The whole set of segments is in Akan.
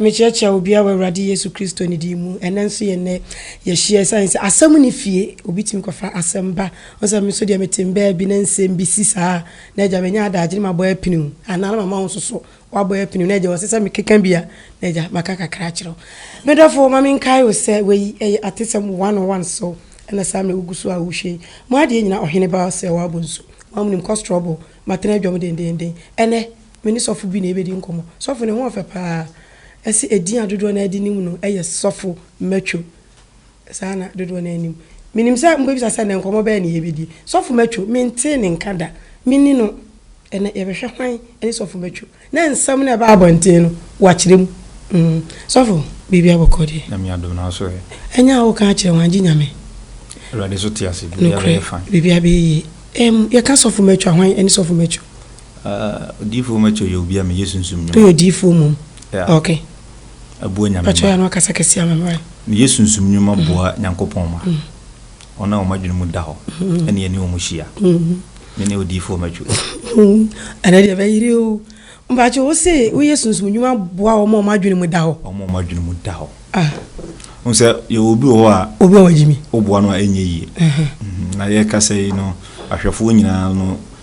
mekyerɛkyerɛ wo bia wɔ awurade yesu kristo ne din mu ɛnɛ nso yɛ nnɛ yɛhyia ɛsiane sɛ asɛm ne fie obi tumi kɔfa asɛm ba Wo sɛ me so deɛ mete mbaa bi na nsɛm bi si saa a na agya manya adaagye na mabɔ apiniw anaa na mama wo nso so woabɔ apiniw na agya ɔsɛ sɛ mekeka bi a na agya maka kakra akyerɛ wo. Me dɔfo ma menkae wo sɛ wei ɛyɛ atesɛm one on one so ɛna saa mmerɛ wogu so a wohwɛ yi mo adeɛ nyina ɔhene ba sɛ wabɔ nsu wam nim kɔ strɔbo matena adwam dendeenden ɛnɛ me ne sɔfo bi na yɛbɛdi nkɔmmɔ sɔfo ne ho ɔfɛ paa ɛse ɛdin a dodoɔ no ara de nim no yɛ sɔfo matwo Saa na dodoɔ no ara nim. Menim sɛ mobɛbisa sɛ, Ɛnnɛ nkɔmmɔ bɛn na yɛbɛdi? Sɔfo Matcho, mentee ne nka da. Me ne no, ɛnnɛ yɛbɛhwɛ hwan ne Sɔfo Matcho. Na nsɛm no a ɛbaa abɔnten no, wakyerɛ mu. Mm, Sɔfo, biribiara bɔkɔ deɛ. Nyame adom, nanso ɛ? Ɛnyɛ a woka akyerɛ wɔn, agye Nyame. Awurade nso te ase, biribiara Nokorɛ, bɛyɛ fine. biribiara bɛyɛ yie. Ɛm, yɛka Sɔfo Matcho a, hwan ne Sɔfo Matcho? Ah, Odiyifoɔ Matcho yɛ obi a meyɛ sunsum nnwuma. Woyɛ odiyifoɔ mmom? Yeah. Okay. aboa Nyame Mpakyɛw yɛ no akasa kɛse ama me wai. Ne yɛ sunsum nnwuma boa Nyankopɔn ma wɔn a wɔn adwene mu da hɔ ne yɛne wɔn hyia. Me ne odiyifoɔ mɛtwe. Ɛnɛ deɛ bɛyere o. Mpakyɛw wo se wo yɛ sunsum nnwuma boa wɔn a wɔn adwene mu da hɔ. Wɔn a wɔn adwene mu da hɔ. Ah. Wo sɛ yɛwɔ obi wɔ hɔ a. Obi a wɔgye mi. Woboa no a ɛnyɛ yie. Na yɛkasa yi no ahwɛfoɔ nyinaa no.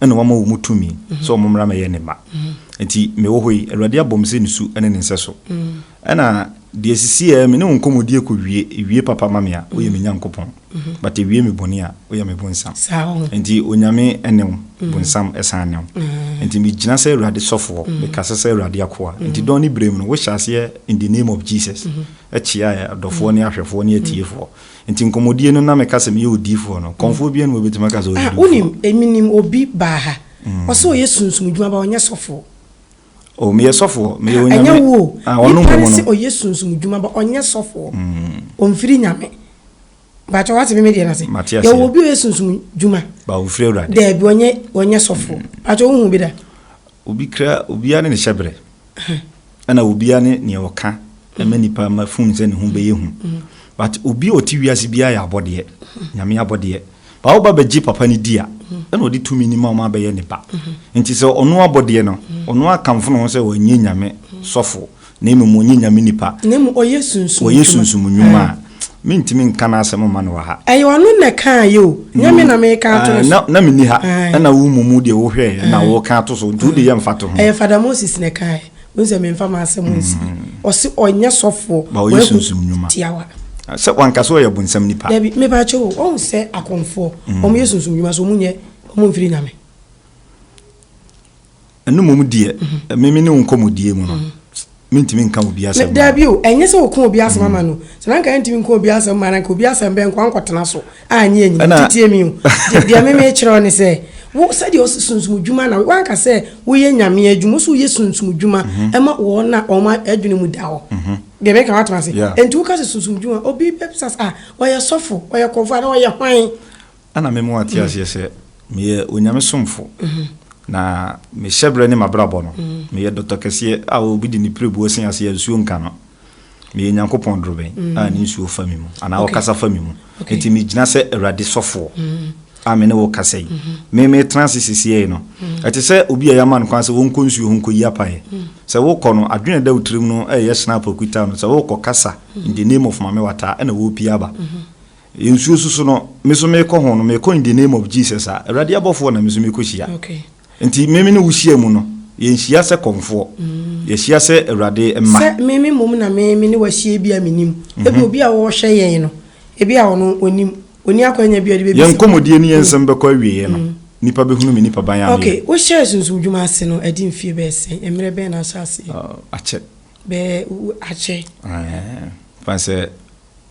na wama wɔn tumi sɛ wɔn mmra mɛyɛ ne mma. Nti mewɔ hɔ yi, Awurade abɔ me sɛ ne su ne ne nsɛso. Ɛna deɛ ɛsisi ɛ, me ne wo nkɔmmɔdie kɔ wie, ɛwie papa ma me a, woyɛ me Nyankopɔn, but ɛwie me bɔne a, woyɛ me bonsam. Nti Onyame ne wo, bonsam san ne wo. Nti megyina sɛ Awurade sɔfoɔ, mekasa sɛ Awurade akoa. Nti dɔn ne berɛ mu no, wohyɛ aseɛ in the name of Jesus kyeaɛ adɔfoɔ ne ahwɛfoɔ ne atiefoɔ. Nti nkɔmɔdie no na me ka sɛ meyɛ odiifoɔ no kɔmfoɔ biaa ni hɔ bɛtumi aka sɛ ɔyɛ Ah wonim odiifoɔ. emi nim obi baa ha ɔsɛ ɔyɛ sunsum dwuma ba ɔnyɛ sɔfoɔ. Oh meyɛ sɔfoɔ meyɛ Ah ɛnyɛ onyame wo o ah ɔno nipa no mmom no. se ɔyɛ sunsum dwuma ba ɔnyɛ sɔfoɔ ɔnfiri nyame mpakyɛ wate me me deɛ no ase Mate aseɛ. yɛwɔ obi a ɔyɛ sunsum dwuma Ba ɔnfiri awurade. daabi ɔnyɛ ɔnyɛ sɔfoɔ mpakyɛ wohu bi da. Obi kra, obiara ne ne hyɛberɛ, ɛna obiara ne nea ɔka ma nipa ma fun sɛ ne ho bɛyɛ hu. But obi a ɔte wiase biara yɛ abɔdeɛ, nyame abɔdeɛ. Ba woba bɛgye papa no di a, ɛna ɔde tumi no ma ɔma bɛyɛ ne ba. Nti sɛ ɔno abɔdeɛ no, ɔno akamfo ne ho sɛ ɔnyɛ nyame sɔfo, Na mmom ɔnyɛ nyame nipa. Na mmom ɔyɛ sunsum nnwuma. Ɔyɛ sunsum nnwuma a mentumi nka n'asɛm mma no wɔ ha. Ɛyɛ ɔno na ɛkaeɛ o, nyɛ me na mereka ato no so. Na menni ha, ɛnna wo mmumu deɛ wohwɛeɛ na woreka ato so, nti wo de yɛ mfatoho. Ɛyɛ Father Moses na ɛkaeɛ, wohu sɛ memfa m'asɛm nsie. Ɔse ɔnyɛ sɔfoɔ, wahu tiawa. Sɛ wanka sɛ ɔyɛ bonsam nipa. Dabi, mepakyɛw o, woahu sɛ akɔmfoɔ, wɔyɛ sunsum nnwuma so wɔnyɛ, wɔmfiri nyame. Ɛno mmom deɛ, me me ne wo nkɔmmɔdie mu no, mentumi nka obi asɛm. Daa bi o, ɛnyɛ sɛ wɔka obi asɛm ama no. Sɛ na nka yɛntumi nka obi asɛm ma no, nka obi asɛm bɛn nko ankɔtena so anyɛ anyini. Titie me o. Deɛ me mekyerɛ wo ne sɛ, wo sɛdeɛ ɔsi sunsum dwuma na wanka sɛ woyɛ nyame adwuma, wo so woyɛ sunsum dwuma ɛma wɔn a wɔn adwene mu da hɔ. Deɛ meka wate ase? Enti woka sɛ sunsum dwuma, obi bɛbisa sɛ, ah, ɔyɛ sɔfo, ɔyɛ kɔmfoɔ anaa ɔyɛ hwan? Ana me mu ate aseɛ sɛ meyɛ Onyame somfo na me hyɛbrɛ ne mabrabɔ no meyɛ dɔtɔ kɛseɛ a obi de ne pirebuo se aseɛ a nsuo nka no meyɛ Nyankopɔn dorobɛn a ne nsuo fa me mu anaa ɔkasa fa me mu enti me gyina sɛ Awurade sɔfoɔ a me ne wo kasa yi me me tena ase sisiɛi no ɛte sɛ obi a yɛama no kwan sɛ wɔnkɔ nsuo ho nkɔyi apaeɛ sɛ wokɔ no adwene da wo tirim no ɛyɛ hyena apɔkuta no sɛ wokɔ kasa in the name of Mame Wata ɛna wɔpie aba Yɛ nsuo so so no me so mekɔ ho no mekɔ in the name of Jesus a awurade abɔfoɔ na me so mekɔ hyia nti meme ne wo hyia mu no yɛ nhyia sɛ kɔmfoɔ yɛ hyia sɛ awurade mma. Sɛ meme mmom na meme ne wo ahyia ebi a menim ebi obi a ɔrehwɛ yɛn no ebi a ɔno onim ɔni akwanya bi a ɔde bɛbisa. Yɛn nkɔmɔdie ne yɛn nsɛm bɛkɔ awieɛ no nipa bɛhunu me nipa ban a meyɛ. Okay wo hyɛɛ sunsum dwuma ase no adi mfie bɛyɛ sɛn mmerɛ bɛn na ahyɛ aseɛ. Akyɛ. Bɛɛ akyɛ. Ɛɛ fan sɛ.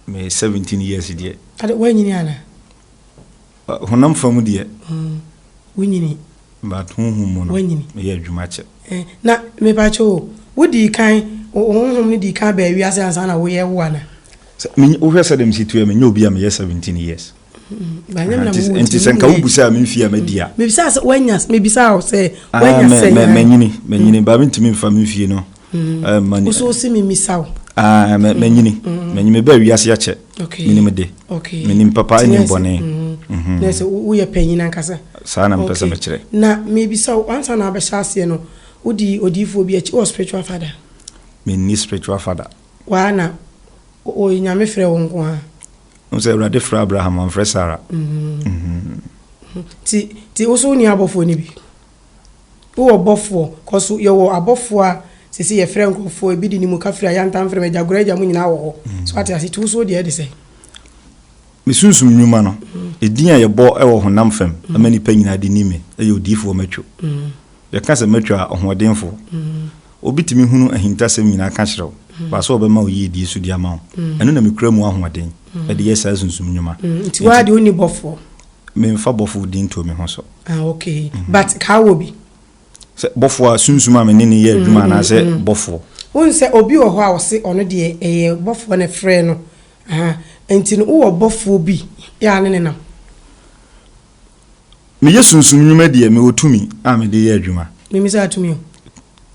Me seventeen years deɛ. Ade wanyini ana? Uh, honam fam deɛ. Mm, wonyini. But honhom mu no. Wanyini. Meyɛ adwuma kyɛ. Eh, na mepakyɛ o, wodii kan, honhom no dii kan baa wiase ansa na woyɛ wo ana? Wohwɛ sɛ dɛm si tuɛ menyɛ obi a meyɛ seventeen years. nti sɛ nka wobusaa me mfie a madi a mebisaa sɛ woanya mebisaa wo sɛ woanya sɛ manyini manyini baa mentumi mfa me mfie no mani so si me misa wo manyini manyini mebaa wiase akyɛ menim de menim papa ne bɔne na sɛ woyɛ panyin ankasa saa na mepɛ sɛ mekyerɛ na mebisa wo ansa na abɛhyɛ aseɛ no wodi odiyifoɔ bi akyi wɔ spiritual father menni spiritual father waa na ɔyɛ nyame frɛ wo nko a Wohu sɛ Awurade frɛ Abraham, ɔmfrɛ Sara. Ti ti wo so wonni abɔfoɔ no bi. Wowɔ bɔfoɔ, kɔ so yɛwɔ abɔfoɔ a sese yɛfrɛ nkurɔfoɔ ebi de ne mu ka firi ayantam frɛ mu agya gora agya mu nyinaa wɔ hɔ. So ate ase ti wo so deɛ ɛde sɛ. Me sunsum nnwuma no, edin a yɛbɔ wɔ honam fam ama nnipa nyinaa de ni me, ɛyɛ odiyifoɔ matwo. Yɛka sɛ matwo a, ɔhoɔdenfoɔ. Obi tumi hunu ahintasɛm nyinaa ka kyerɛ wo, baaso ɔbɛma wo yiedie so de ama wo. Ɛno na mekura mu ahoɔden de yɛ saa sunsum nnwuma. Nti waa de wonni bɔfoɔ? Memfa bɔfoɔ din nto me ho so. Ah, okay. But kaa wɔ bi? Sɛ bɔfoɔ a, sunsum a me ne no yɛ adwuma anaasɛ bɔfoɔ? Wohu sɛ obi wɔ hɔ a ɔse ɔno deɛ ɛyɛ bɔfoɔ na ɛfrɛɛ no, ahaa, nti no wowɔ bɔfoɔ bi a ne ne nam? Meyɛ sunsum nnwuma deɛ, mewɔ tumi a mede yɛ adwuma. Mimisaa tumi o.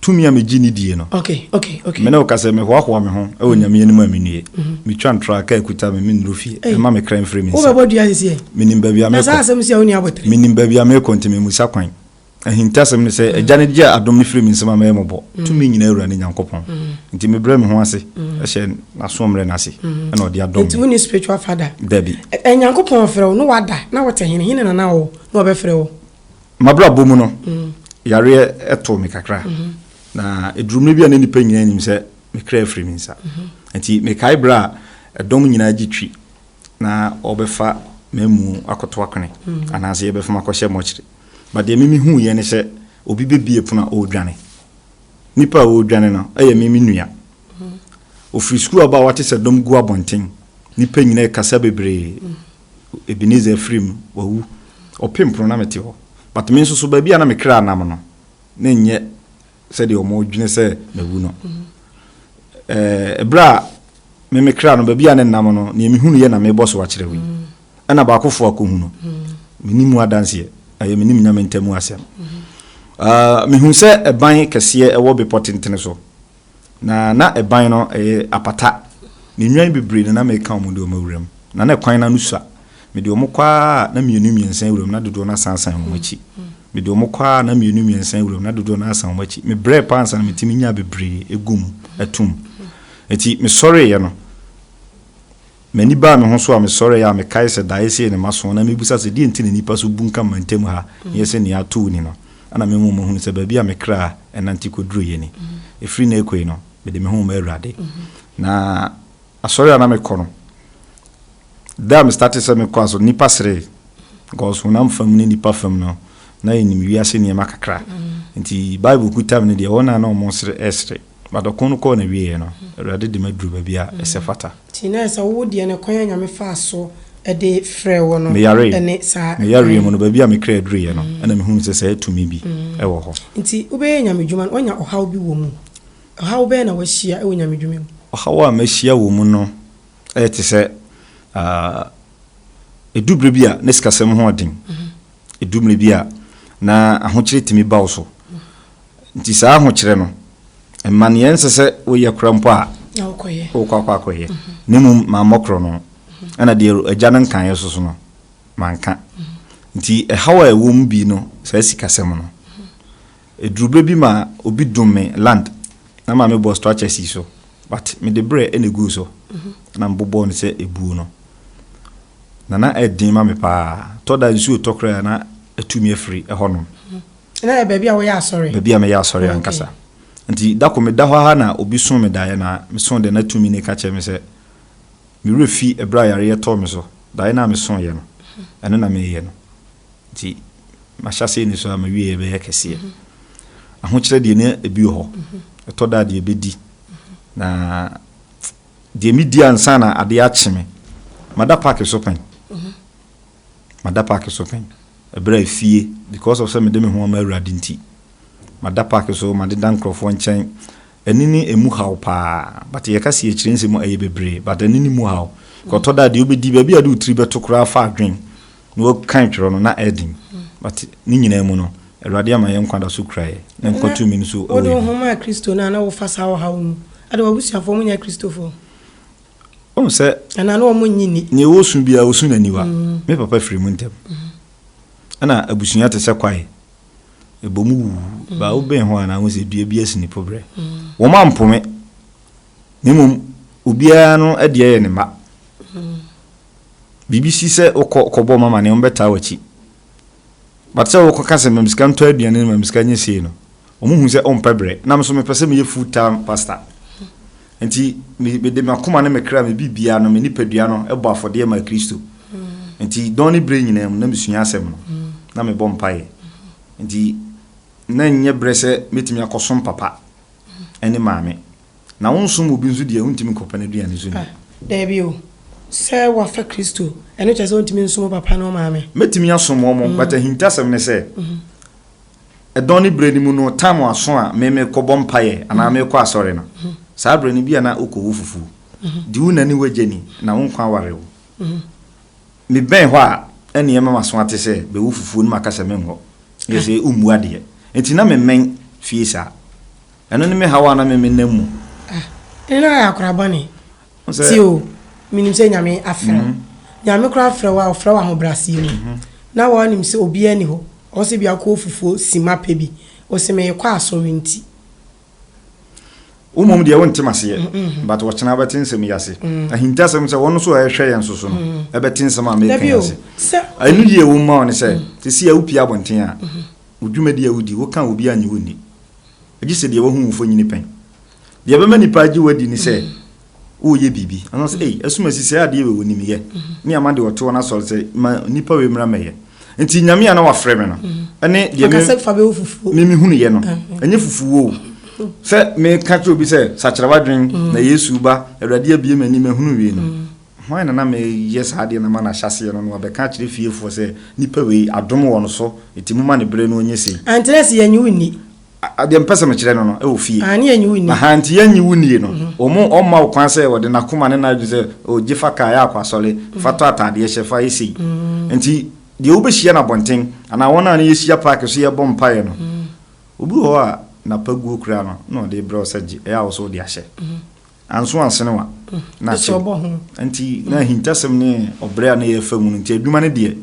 Tumi a megye ni die no. Okay, okay, okay. Me ne wo ka sɛ, mehoahoa me ho wɔ Nyame anim a mennue. Metwa ntorɔ a kaa kuta me, mennuru fie. Ei! Ɛma me kra mfiri me nsa. Wobɛbɔ dua sesie? Menim baabi a merekɔ. Na saa asɛm sei a wonni abotire? Menim baabi a merekɔ nti memmisa kwan. Ahintasɛm ne sɛ, Agya no gye adom no firi me nsam a mɛyɛ mmɔbɔ. Tumi nyinaa Wura ne Nyankopɔn nti, mebrɛ me ho ase hyɛ N'asoɔmmerɛ no ase, ɛna Ɔde adom me. Nti wonni spiritual father? Dabi. Ɛ, Nyankopɔn ɔfrɛ wo na wada na wote he? Hene na na ɔwɔ na ɔbɛfrɛ wo? M'abrabɔ mu no, yareɛ too me kakra, na ɛduruu mmerɛ bi a na nnipa nyinaa nim sɛ me kra afiri me nsa. Nti mekae berɛ a ɛdɔm nyinaa gye twi na wɔrebɛfa m'amu akɔto akwene, anaasɛ yɛrebɛfa me akɔhyɛ mɔkyere. But deɛ me mehuuiɛ ne sɛ obi bɛbie pono a ɔredwane. Nipa a ɔredwane no yɛ me me nua. Ɔfiri sukuu aba a wate sɛ dɔm gu abɔnten. Nipa nyinaa kasa bebree. Ebenezer afiri mu, wawu. Ɔpem pono na mete hɔ. But me nso so baabi a na me kra nam no na nyɛ sɛdeɛ wɔdwene sɛ mawu no. Ɛberɛ a me me kra no baabi a ne nam no nea mehunu yɛ na mebɔ so akyerɛ wo yi ɛna baakofoɔ akɔhu no menim mu adanseɛ ɛyɛ menim nyame ntamu asɛm mehu sɛ ɛban kɛseɛ ɛwɔ bepɔ tentene so na na ɛban no ɛyɛ apata ne nnwan bebree na na meka ɔmo de ɔmo awuram na na ɛkwan no ano sua Mede wɔn kɔ ara a, na mmienu mmiɛnsa awuram, na dodoɔ no asan asan wɔn akyi. Mede wɔn kɔ ara a, na mmienu mmiɛnsa awuram, na dodoɔ no asan wɔn akyi. Mebrɛɛ paa ansa na metumi nyaa bebree guu mu toom. Enti mesɔreeɛ no, m'ani baa me ho so a mesɔreeɛ a mekae sɛ, Daeɛ sei ne m'aso, na mebisa sɛ, Deɛn nti na nnipa so bunkam ma ntam ha no yɛ sɛ nea ato wini no? Ɛnna me nwoma hunuu sɛ baabi a me kra nante kɔduruiɛ ni. Ɛfiri nnɛ rekɔ yi no, mede me ho rema Awurade. Na asɔre a na mekɔ no, Da a me startee sɛ me kɔa so no nnipa seree because honam fam ne nnipa fam no na yɛnim wiase nneɛma kakra nti Bible kuta me no deɛ wɔn a na wɔn sere ɛsere but ɔko no kɔɔ n'awieɛ no Awurade de maduru baabi a ɛsɛ fata. Nti na ɛsɛ wo deɛ no kwan a Nyame faa so de frɛɛ wo no Me yaree ɛne saa kwan. Me yareɛ mu no baabi a me kra duruiɛ no ɛna mehunu sɛ saa tumi bi ɛwɔ hɔ. Nti wobɛyɛ Nyame dwuma no woanya ɔhaw bi wɔ mu? Ɔhaw bɛn na wahyia wɔ Nyame dwuma mu? Ɔhaw a mahyia wɔ mu no Ɛyɛ te sɛ ɛdu berɛ bi a na sikasɛm ho ɔden, ɛdu mmerɛ bi a na ahokyerɛ tumi ba wo so. Nti saa ahokyerɛ no, mmaneɛ nsɛ sɛ woyɛ kora mpo a wokɔ akɔ akɔyɛ. Ne mmom mammɔ korɔ no, ɛna deɛ agya no nkaeɛ so so no, manka. Nti ɛhaw a ɛwɔ mu bi no, saa sikasɛm no. Eduru bere bi ma obi dum me land na ma mebɔ structure sii so but mede berɛ na eguu so na mebobɔɔ no sɛ ebuo no na na ɛyɛ den ma me paa. Tɔ da nsuo tɔ koraa na atu me afiri hɔnom. Na ɛyɛ baabi a woyɛ asɔre? Baabi a meyɛ asɔre ankasa. Nti da ko meda hɔ ara na obi soo me daeɛ na mesoo deɛ na tumi no ka kyerɛ me sɛ me werɛ fi ɛberɛ a yareɛ tɔɔ me so daeɛ no a mesooeɛ no ɛno na mereyɛ no. nti mahyɛ aseɛ ni so a mawie yɛ bɛyɛ kɛseɛ ahokyerɛ deɛ ne ebi wɔ hɔ ɛtɔ da deɛ bɛdi na deɛ medi ansa na adeɛ akye me mada paaki so pɛn mada paaki so pɛn ɛberɛ a efie because of sɛ mede me ho ama awurade nti mada paaki so made da nkurɔfoɔ nkyɛn ɛne ne emu haw paa but yɛka si akyire nsɛm ɛyɛ bebree but ɛne ne mu haw kɔtɔ da deɛ wobɛdi baabi a de wotiri bɛto koraa fa adwen Na wɔkan twerɛ no na adim. But ne nyinaa mu no, Awurade ama yɛn nkwa da so kura yɛn, ne nkwa tumi no so wɔ yɛn mu. Wode wo ho maa Kristo no a, na wofa saa ɔhaw yi mu? Ade, w'abusuafoɔ wɔnyɛ Akristofoɔ? Wohu sɛ. Anaa na wɔnnye nni? Nea wɔsu biara, wɔsu no aniwa. Me papa firi mu ntɛm. Ɛna abusua te sɛ kwae. Ɛbɔ mu wu. Baa wobɛn hɔ a, na wohu sɛ dua bi asi ne poberɛ. Wɔn ampo me. Na mmom, obiara no adeɛ yɛ ne mma. Biribi si sɛ wokɔ kɔbɔ wɔn amanneɛ a, wɔbɛtaa w'akyi. But sɛ wokɔka sɛ ma me sika ntɔ aduane no, ma me sika nyɛ sei no, wɔhu sɛ wompɛ brɛ. Na me nso mepɛ sɛ meyɛ full time pastor. Nti me, mede m'akoma ne me kra, me biribiara no, me nipadua no bɔ afɔdeɛ maa Kristo. Nti dɔn ne berɛ nyinaa mu, na mesua asɛm no, na mebɔ mpaeɛ. Nti na ɛnyɛ berɛ sɛ mɛtumi akɔsom papa ne maame. Na wonsom obi nso deɛ, wontumi nkɔpɛ n'aduane nso nni. Daabi o, sɛ woafa Kristo, ɛno kyerɛ sɛ wontumi nsom wo papa ne wo maame. Mɛtumi asom wɔn, mm. but ahintasɛm ne sɛ, mm -hmm. ɛdɔn ne berɛ no mu no, time aso a me mekɔbɔ mpaeɛ anaa mm-hmm. mekɔ asɔre no, mm-hmm. saa berɛ no bi a na wokɔwɔ fufuo. Mm-hmm. Di wo na ne wagya ni, na wo nkwa aware wo. Mebɛn hɔ a, ɛneɛ mɛma so ate sɛ bɛwɔ fufuo no makasa menhɔ. Yɛ sɛ wommua deɛ. Nti na memmɛn fie saa. Ɛno ne me haw a na me me nam mu. Ah, ɛne na ayɛ akora bɔne. Sɛ. Ti o, menim sɛ Nyame afrɛ wo. Nyame koraa afrɛ wo a, ɔfrɛ wo ahobrɛaseɛ mu. Na woanim sɛ obiara nni hɔ, ɔwɔ sɛ bi akɔ ofufuo simma pɛ bi. Wo se meekɔ asɔre nti. Wo mmom deɛ wonte m'aseɛ. But ɔkyena wobɛte nsɛm yi ase. Ahintasɛm sɛ wɔn nso a ɛrehwɛ yɛn nso so no ɛbɛte nsɛm a meeka yi ase. Ɛno yie wɔ mu ma wo ne sɛ, seesei a wopie abɔnten a, wo dwumadie a wodi, woka a obiara nnye wo nni. gye sɛ deɛ wahu wo mfonini pɛn. Deɛ ɛbɛma nnipa agye wo adi ne sɛ woreyɛ biribi. Anaa sɛ, ei, ɛsom asi sɛ adeɛ wei wɔnim yɛ. Me a made ɔtoɔ no asɔre sɛ ma nnipa wei mmra mmɛyɛ. Nti Nyame a na wafrɛ me no ne deɛ me mehunuyɛ no, ɛnyɛ fufuo o. Sɛ meka kyerɛ obi sɛ sakyera w'adwene na Yesu reba, Awurade abue m'ani mahunu wei no, Hwan na na meyɛ saa adeɛ no ama no ahyɛaseɛ no, na wabɛka akyerɛ fiefoɔ sɛ, Nipa wei, adom wɔ no so, enti momma ne berɛ no nyɛ sei? Aane, na sɛ yɛnnye wo nni. A, deɛ mepɛ sɛ mekyerɛ no no, wɔ fie. Aane, yɛnnye wo nni. Ahaa, enti yɛnnye wo nnie no, wɔn, wɔmma wo kwan sɛ ɔde n'akoma ne n'adwene sɛ, O, gye fa kaa yɛ akɔ asɔre, fa tɔ ataadeɛ hyɛ, fa yɛ sei. Enti, deɛ wobɛhyia no abɔnten, anaa wɔn a ne yɛhyia paake so yɛbɔ mpaeɛ no, obi wɔ hɔ a, n'apaguo koraa no, na ɔde rebrɛ wo sɛ gye, ɛyɛ a wo nso wode ahyɛ. Anso Asenewa na Pɛ sɛ akyɛ ɔbɔ ho. wo. Nti na ahintasɛm ne ɔbrɛ a na yɛrefa mu no nti adwuma no deɛ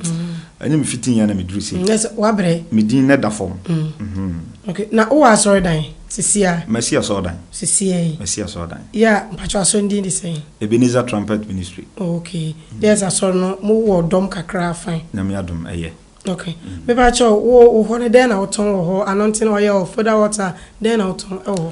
ɛne me fiti yɛ na me duru sei. Nyɛ sɛ wabrɛ. Me din na ɛda fam. Mhm. Ok, na wowɔ asɔredan sisi a? Masi asɔredan. Sisi a yi. Masi asɔredan. Yɛ a, mpakyɛ asɔre no din de sɛn? Ebenezer Trumpet Ministry. Oh, ok. Yɛ sɛ asɔre no mo wɔ dɔm kakra a, fine. Nyame adom, ɛyɛ. Ok. Me pa kyɛw, wo, wo hɔ no dɛn na wotɔn wɔ hɔ? Anointing oil, foda water, dɛn na wotɔn ɛwɔ hɔ?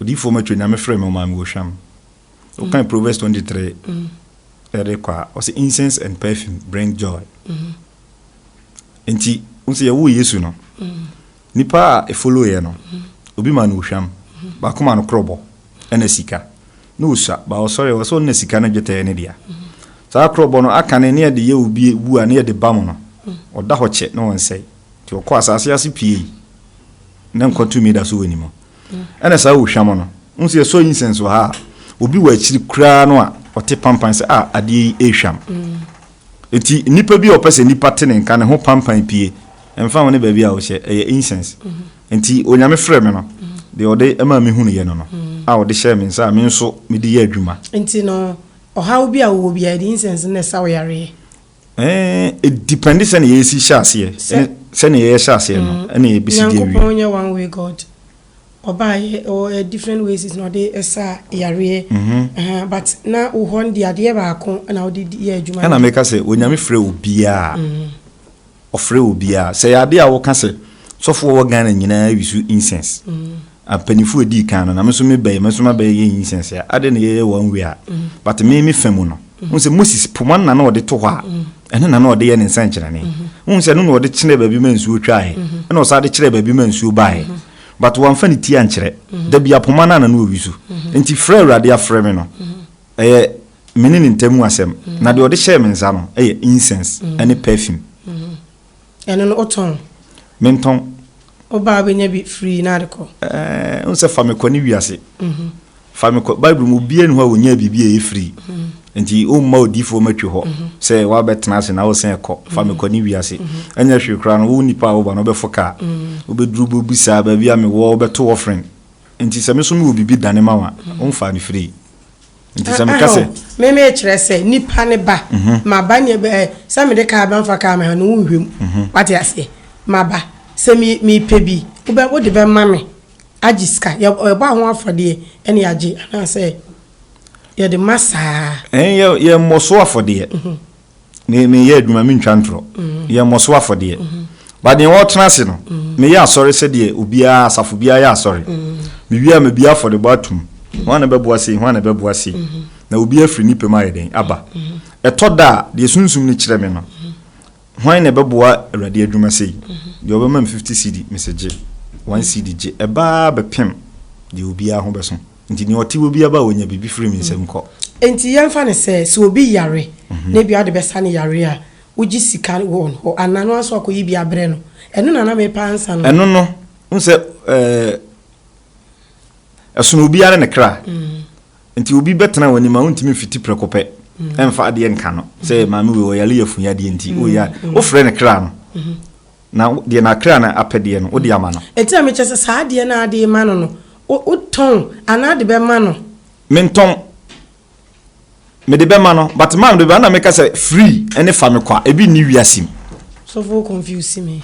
odiyifoɔ matwa nyame frɛ me ɔmaa me wɔhwam wokan proverbs 23 ɛde kɔ a ɔsɛ incense and perfume bring joy nti wo sɛ yɛwoo yesu no nipa a ɛfoloyɛ no obi ma no ohwam baako ma no korɔbɔ ɛna sika na ɔsua ba ɔsɔre wɔ sɛ ɔnna sika no dwetɛɛ ne dea saa korɔbɔ no aka ne ne yɛde yɛ obi wu a ne yɛde ba mu no ɔda hɔ kyɛ na ɔnsɛe Nti ɔkɔ asase ase piei, na nkwa tumi da so wɔ ne mu. Ɛna saa ohwam no, wohu sɛ yɛsɔ incense wɔ ha a, obi wɔ akyiri koraa no a ɔte pampan sɛ a adeɛ yi ehwam. Nti nipa bi a ɔpɛ sɛ nipa te ne nka ne ho pampan pie, ɛmfa ho ne baabi a ɔhyɛ, ɛyɛ incense. Nti Onyame frɛ me no, deɛ ɔde maa me hunuyɛ no no, a ɔde hyɛɛ me nsa a me nso mede yɛ adwuma. Nti no, ɔhaw bi a wowɔ biara, yɛde incense no na ɛsa wo yareɛ. Ɛɛ, depende sɛnea yɛsi hyɛ aseɛ, ɛne sɛnea yɛhyɛ aseɛ no, mm. ɛna yɛbɛsi deɛ wie. Nyankopɔn nyɛ one way God. Ɔbaayɛ ɔwɔ different ways na ɔde ɛsa yareɛ. Mhm. But na wo hɔ de adeɛ baako na wode yɛ adwuma. Ɛna meka sɛ onyame frɛ obiara. Mhm. Ɔfrɛ obiara. Sɛ yɛ adeɛ a wɔka sɛ sɔfoɔ wɔ Ghana nyinaa wisu incense. Mhm. Mpanyinfo a edii kan no, na me nso me bɛyɛ, me nso ma bɛyɛ yɛn nyinsɛn sɛ ade na yɛyɛ one way a, but me me fa mu no, wohu sɛ Moses poma no na na ɔde to hɔ a, ɛno na na ɔde yɛ ne nsɛnkyerɛnne. Wohu sɛ ɛno na ɔde kyerɛɛ baabi ma nsuo twaeɛ, ɛna ɔsan de kyerɛɛ baabi ma nsuo baeɛ. But wamfa ne ti ankyerɛ. Da biara poma no ara na na ɔyi so. Enti frɛ a Awurade afrɛ me no, ɛyɛ me ne ne ntam mu asɛm, na deɛ ɔde hyɛɛ me nsa no yɛ incense ne perfume. Ɛno no, wotɔn? Mentɔn. Wo ba a wobɛnya bi firi na ade kɔ. Ɛɛ, wohu sɛ fa me kɔ ne wiase. Fa me kɔ. Bible mu, obiara nni hɔ a ɔnyaa biribi a ɛyɛ firi. Enti womma odiyifoɔ mmɛtwe hɔ sɛ woabɛtena ase na wosan rekɔ. Fa me kɔ ne wiase. Ɛnyɛ hwee koraa no, wo nipa a woba no, wobɛfo kaa. Wobɛduru, wobɛbisa baabi a mewɔ, wobɛto offering. Enti sɛ me nso mewɔ biribi dane ma wo a, womfaa no firii. nti sɛ meka sɛ. me me kyerɛ sɛ nipa ne ba mhm. ma ba ne bɛ sɛ mede kaa bɛ nfa kaa me ha no wo nhwɛ mu mhm. wate aseɛ ma ba sɛ me me pɛ bi wobɛ wode bɛ ma me agye sika yɛbɔ aho afɔdeɛ ɛne yɛagye anaasɛ yɛde ma saa. ɛn yɛ yɛ mmɔ so afɔdeɛ. Mhm. me meyɛ adwuma mentwa ntorɔ yɛmmɔ so afɔdeɛ ba deɛ wɔtena ase no meyɛ asɔre sɛdeɛ obiara asafo biara yɛ asɔre mewie a mebie afɔdebɔ atom ho ana bɛboa sei ho ana bɛboa sei na obi afiri ne pɛ mu ayɛ dɛn aba ɛtɔ da a deɛ sunsum no kyerɛ me no hwan na ɛbɛboa awurade adwuma sei deɛ ɔbɛma me 50 cd mesɛ gye 1 cd gye ɛbaa bɛpem deɛ obiara ho bɛso Nti nea ɔte hɔ biara ba a, ɔnya biribi firi me nsam kɔ. Enti yɛmfa no sɛ, sɛ obi yare na ebia wode bɛsa no yareɛ a, wogye sika wɔ wɔn hɔ anaa no ara nso akɔyi bi abrɛ no. Ɛno na na merepɛ ansa no. Ɛno no, wohu sɛ ɛɛ, ɛsono obiara ne ne kra. Nti obi bɛtena w'anim a, wontumi mfiti prɛko pɛ mfa adeɛ nka no sɛ maame wei ɔyare yafunu yadeɛ nti, o ya, wofrɛ no kra no. Na deɛ n'akra no apɛdeɛ no, wode ama no. Enti na mekyerɛ sɛ saa adeɛ no a wode rema no no, wotɔn anaa wode bɛma no? Mentɔn. Mede bɛma no. But maa mede bɛma no na meka sɛ free ne fa me kwa. Ebi nni wiase mu. Sɔfo wo confuse me.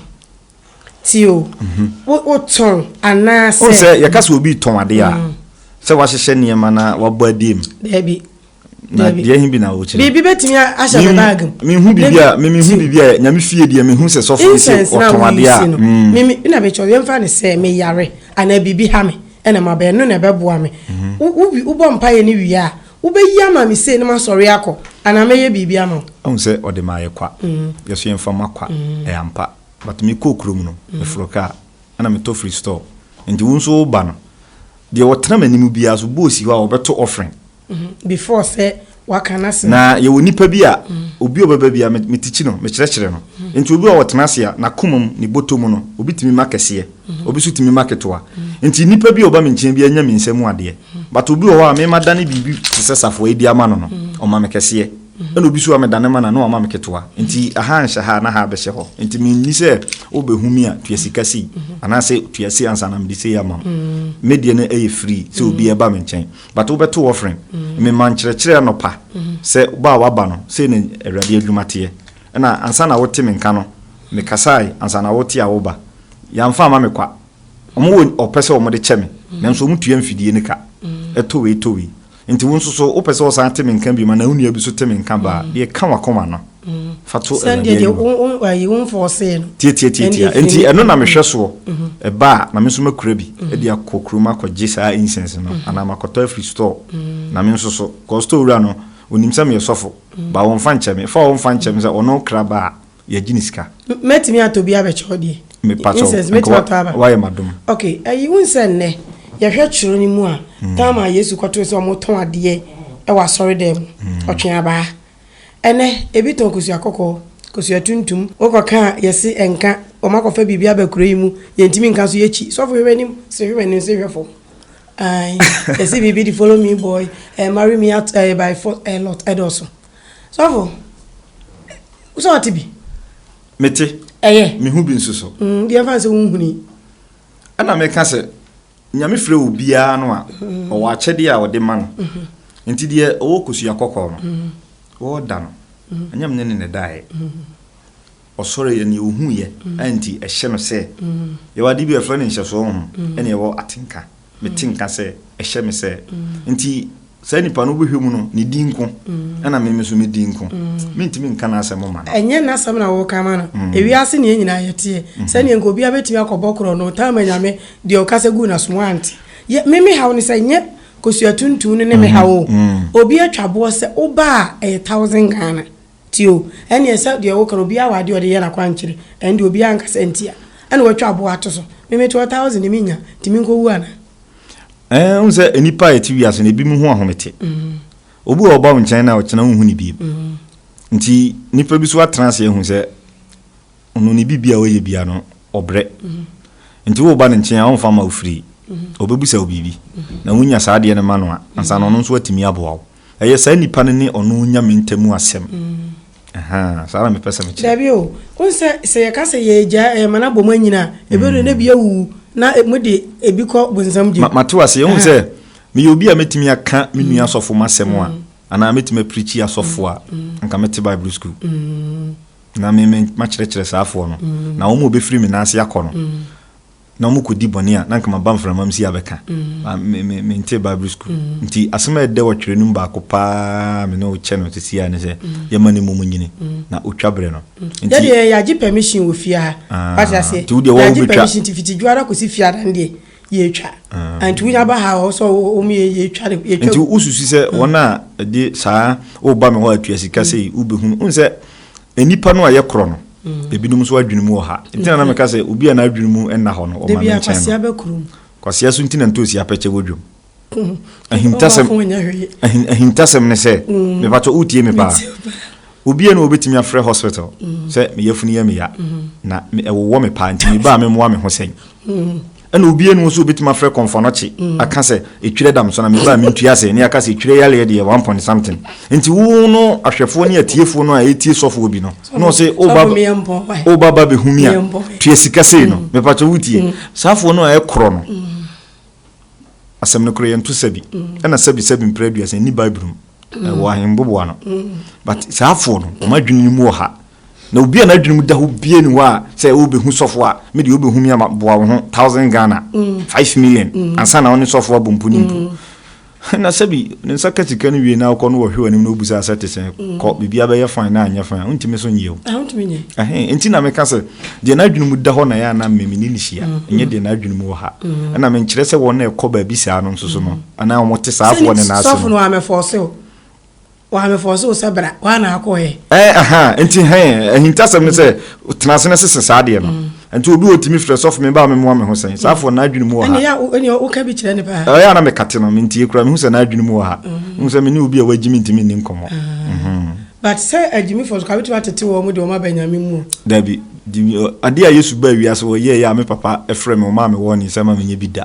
Ti o, wotɔn anaasɛ. Wohu sɛ yɛka sɛ obi retɔn adeɛ a, sɛ wahyehyɛ nneɛma na wabɔ adie mu. Daabi. na deɛ he bi na wokyerɛ biribi bɛtumi ahyɛ me bag mu mehu biribi a memehu biribi a nyame fie deɛ mehu sɛ sɔfo bi sɛ ɔtɔn adeɛ a mm. meme na mekyɛ yɛmfa ne sɛ meyare anaa biribi ha me ɛna mabɛn no na ɛbɛboa me mhm. wobɔ mpayɛ no wie a wobɛyi ama me sei no masɔre akɔ anaa mɛyɛ biribi ama ɔhu sɛ ɔde maayɛ kwa mhm. yɛso yɛmfa ma kwa mhm. ɛyɛ ampa but mekɔɔ kurom no meforo kaa ɛna metɔ free store nti wo nso woba no deɛ wɔtena m'anim biara so bɔɔsi hɔ a wɔbɛto offering Mhm, before sɛ waka n'asɛm. Na yɛwɔ nnipa bi a, obi a ɔbɛba bi a, me, metikyi no, mekyerɛkyerɛ no. Mhm. Nti obi a ɔtena ase a, n'akoma mu, ne bɔtɔ mu no, obi tumi ma kɛseɛ, mhm. obi nso tumi ma ketewa. Mhm. Nti nnipa bi a ɔba me nkyɛn bi anya me nsa mu adeɛ. Mhm. But obi wɔ hɔ a, me madane biribi te sɛ safoa adi ama no no, mhm. ɔma me kɛseɛ. Mhm. Ɛna obi nso a medane ma no a, na wama me ketewa. Mhm. Nti aha nhyɛ ha na ha abɛhyɛ hɔ. Nti menni sɛ wobɛhu me a, tua sika sei, mhm. anaasɛ tua sei ansa na mede sei ama wo. Mhm. Medeɛ no ɛyɛ free sɛ obi mhm. ɛba me nkyɛn. but wobɛto offering. Mema nkyerɛkyerɛ anɔpa sɛ ba a woaba no, sei na Awurade adwuma teɛ. Ɛna ansa na wote me nka no, mekasae ansa na wote a woba. Yɛamfa amma me kwa. Wɔwɔ ɔpɛ sɛ wɔde kyɛ me, nanso wɔtua mfidie no ka. Ɛtɔ wei, ɛtɔ wei. Enti wo nso so, wopɛ sɛ wosan te me nka bio anaa wo nua bi nso te me nka ba a, deɛ ɛka w'akoma no. fa to awurade anim tiatiatiatia nti ɛno na mehwɛ soɔ mhm. ɛba a na me nso makura bi mhm. de akɔ kurom akɔgye saa incense no mhm. anaa makɔtɔ afiri store na me nso so kɔ store wura no onim sɛ meyɛ sɔfo ba wɔmfa nkyɛ me fa wɔmfa nkyɛ me sɛ ɔno kra ba a yɛgye ne sika mɛtumi atɔ bi abɛkyɛw deɛ mepatɔ wayɛ madom ok ayi wo nsɛ nnɛ yɛhwɛ kyerɛ no mu a hmm. tam a yesu kɔtoo sɛ ɔmotɔn adeɛ ɛwɔ asɔre dɛ mu hmm. ɔtwe abaa Ɛnɛ, ebi tɔn kosua kɔkɔɔ, kosua tuntum. Wokɔ ka a, yɛse ɛnka. Wɔn akɔfa biribi aba kuro yi mu, yɛntumi nka so, yɛkyi. Sɔfo hwɛ w'anim, se hwɛ m'anim, se hwɛ fam. Ae, yɛse biribi de follow me boy, eh, marry me at, eh, by force, eh, lot, ɛdɔɔso. Sɔfo, sɛ ɔte bi? Mete. Ɛyɛ. Mehu bi nso so. Mm, deɛ mfa sɛ wonhuni. Ɛna meka sɛ, Nyame frɛ obiara no a, ɔwɔ akyɛdeɛ a ɔde ma no. Nti deɛ ɔwɔ kosua kɔkɔɔ no, wɔɔda no. Ɛnyɛ mene ne na ɛdaeɛ. Ɔsɔreeɛ, neɛ ɔhuuiɛ a nti ɛhyɛ no sɛ, yɛwɔ adeɛ bi a yɛfrɛ no nhyɛsoɔ honhom, ɛne ɛwɔ atenka. Mete nka sɛ ɛhyɛ me sɛ. Nti Saa nipa no wobɛhwɛ mu no, ne din nko ɛna me nso me din nko. Mentumi nka n'asɛm ma no. Ɛnyɛ n'asɛm na woreka ma no. Ewiase nea nyinaa yɛteɛ. Sɛdeɛ nka obiara bɛtumi akɔbɔ korɔ no, ɔtaa ma Nyame deɛ ɔkasa guu n'asom wante. Yɛ, me me haw ne sɛ nyɛ Kosua Tuntun no ne me haw o. Obi atwa boɔ sɛ woba a ɛyɛ thousand Ghana. Nti o, ɛnneɛ sɛ deɛ woka no, obiara wɔ adeɛ a ɔde yɛ n'akwankyerɛ, ɛnde obiara nka sɛ nti a ɛna watwa aboɔ ato so. Me mete hɔ thousand de mennya, nti menkɔwu anaa? Ɛɛ, wohu sɛ nnipa a yɛte wiase no, ebinom ho ahomete. Obi wɔ hɔ a ɔba wo nkyɛn no a, ɔkyena wonhu no bio. Nti nnipa bi nso atena ase ahu sɛ ɔno ne biribi a ɔyɛ biara no, ɔbrɛ. Nti woreba ne nkyɛn a, ɔmfa mma wo firii. Ɔbɛbisa wo biribi, na wonya saa adeɛ no ma no a, ansa na ɔno nso atumi aboa wo. Ɛyɛ saa nipa no ne ɔno Nyame ntamu asɛm. Ahaa, saa na mepɛ sɛ mekyerɛ. Dabi o, wohu sɛ, sɛ yɛka sɛ yɛgyae ɛyɛ ma no abɔ mu anyini a, ɛbɛdu no na bi awuwu, na mode ebi kɔ bonsam gye mu. Mate wo aseɛ, wohu sɛ, meyɛ obi a mɛtumi aka me nua asɔfo mu asɛm a, anaa mɛtumi aprikyi asɔfo a, anka mete Bible sukuu, na me, me, makyerɛkyerɛ saa foɔ no, na wɔn a wɔbɛfiri me nan ase akɔ no. na ɔmo kɔdi bɔne a na nka maba mframam si abɛka mm. mentee bible school mm. nti asɛm a ɛdɛ wɔtwerɛ no mu baako paa me ne wokyɛ no sisi a ne sɛ mm. yɛma ne mmom nyini na ɔtwa berɛ no yɛdeɛ yɛagye permission wɔ fie ha ah, wate aseɛ yɛagye permission nti fiti dwuara kɔsi fie adan deɛ yɛtwa ah. nti wonya ba ha ɔ sɛ wɔm yɛtwa nti wosusu sɛ wɔn a ɛde saa woba me hɔ atua sika sei wobɛhunu wohu sɛ Nnipa no a ɛyɛ korɔ no, ebinom nso adwene mu wɔ ha. Nti na na meka sɛ obi a n'adwene mu nna hɔ no, wɔma me nkyɛn no. Kwasea so nti na ntoosi apɛkyɛ wɔ dwam. Ahintasɛm, ahintasɛm ne sɛ, mm. mebatɔ wotie me paa. Obi a na wɔbɛtumi afrɛ hospital mm. sɛ me yafunu yɛ me ya, mm. na ɛwowɔ me paa nti mebaa me mmoa me ho sɛn. Ɛna obi anu nso obetumi afrɛ kɔnfɔnɔkye mm. aka sɛ etwerɛ dam so na meba a mentua ase ne aka sɛ etwerɛ yaleɛ deɛ one point something nti wo no ahwɛfoɔ ne atiefoɔ no a ɛtie sɔfoɔ bi no na ɔse woba ba bɛhu mi a tua sika sei no mm. mepakyɛ wotie mm. saafoɔ no a ɛkorɔ no asɛm no korɔ yɛnto sɛbi ɛna sɛbi sɛbi mprɛ aduasa nni bible mu ɛwɔ ahemboboa no but saafoɔ no ɔma adwene no mu wɔ ha Na obi a n'adwene mu da hɔ bia ni hɔ a sɛ wobɛhu sɔfo a me deɛ wobɛhu me ama boa wo ho thousand Ghana mm. five million mm. ansa na wo ne sɔfo abɔ mpo ne mpo mm. na sɛbi ne nsa ka sika no wie na wokɔ no wɔhwe w'anim na wobu sɛ asɛ te sɛ mm. kɔ biribi abɛyɛ fan na anyɛ fan wontumi so nyɛ o ah, nti na meka sɛ deɛ n'adwene mu da hɔ na yɛ ana mmemme ne ne hyia mm. ɛnyɛ deɛ n'adwene mu wɔ ha mm. ɛna menkyerɛ sɛ wɔn na ɛkɔ baabi saa no nso so no anaa wɔte saafoɔ ne naase no Waa me fɔɔse wo sɛ bra, waa na akɔ ɛ. Ɛn aha, nti hɛn, ahintasɛm ne sɛ, mm. tena ase na sese saa adeɛ no. Mm. Nti obi wɔ tumi frɛ sɔfo me ba me mmoa me ho sɛn, saa mm. afɔ n'adwene mu wɔ ha. Ɛnea woka bi kyerɛ ne paa. Ɛyɛ ana mekate no, mentie koraa, mehu sɛ n'adwene mu wɔ ha. Mehu mm. sɛ me ne obi a wagye me ntumi nni nkɔmmɔ. Ah. Mhm. But sɛ agyimi fɔ so, ka wotumi atete wɔn mu de wɔn aba nyame mu. Dabi, adeɛ a Yesu baa wiase wɔ yɛɛyɛ a me papa frɛ me, ɔmaa me wɔɔ ne nsɛm a menyɛ bi da.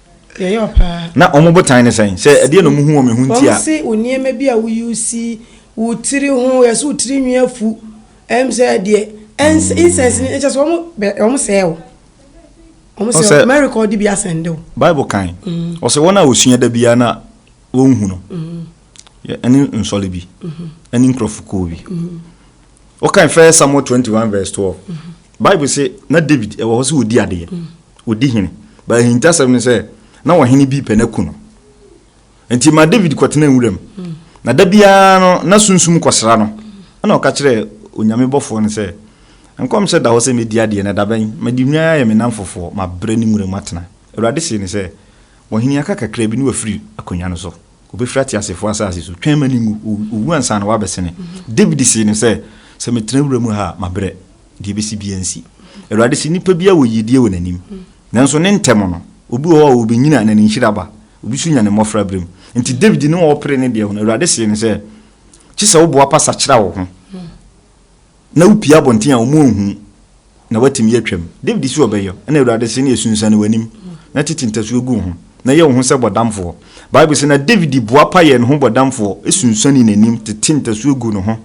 Yɛyɛ wo paa. Na wɔn botan ne sɛn? Sɛ ɛdeɛn na wɔhu wɔ me ho nti a. Wɔn se wo nneɛma bi a wo use, wo tiri ho, yɛse wo tiri nwi afu, ɛm sɛ deɛ, ɛns, incense ni, ɛkyɛ sɛ wɔn bɛ, wɔn sɛɛ wo. Wɔn sɛɛ wo, mɛ record bi asɛnde wo. Bible kan, ɔsɛ wɔn a wɔsua da biara na wɔnhu no, yɛ, ɛne nsɔle bi, ɛne nkurɔfo kuo bi. Wokan First Samuel 21 verse 12, Bible se na David ɛwɔ hɔ sɛ ɔdi adeɛ. ɔdi hene. But ahintasɛm ne sɛ, na ɔhene bi repɛ no aku no. Nti ma David kɔtenaa nwuram. Mm. Na da biara no, na sunsum kɔsra no. Ɛna ɔka kyerɛɛ Onyame bɔfoɔ no sɛ, Nkɔmhyɛ da hɔ sɛ mɛdi adeɛ, na dabɛn mede nnwan ayɛ me namfofoɔ, mabrɛ ne nwuram atena. Awurade see no sɛ, Ɔhene aka kakra bi na wafiri akonnwa no so. Ɔbɛfiri ateasefoɔ asase so. Twɛn ma no nwu. Ɔwu ansa na wabɛsene. Mm-hmm. David see no sɛ, Sɛ metena wura mu ha a, mabrɛ. Deɛ ɛbɛsi biara nsi. Awurade se, Nipa biara wɔ yiedie wɔ n'anim, nanso ne ntɛm no, obi wɔ hɔ a ɔbɛnyina na ne nhyira aba, obi nso nya ne mmɔfra berɛ mu. Enti Dawid ne ɔrepere ne deɛ ho no, Awurade see no sɛ, Gye sɛ woboapa sakyera wo ho na wopue abɔnten a wɔn anhunu na woatumi atwam. Dawid se ɔbɛyɔ, ɛnna Awurade see no yɛ, Sunsuane w'anim na tete ntasuo gu wo ho, na yɛ wo ho sɛ bɔdamfoɔ. Bible se, Na Dawid boapa yɛɛ ne ho bɔdamfoɔ, sunsuanee n'anim, tetee ntasuo guu ne ho.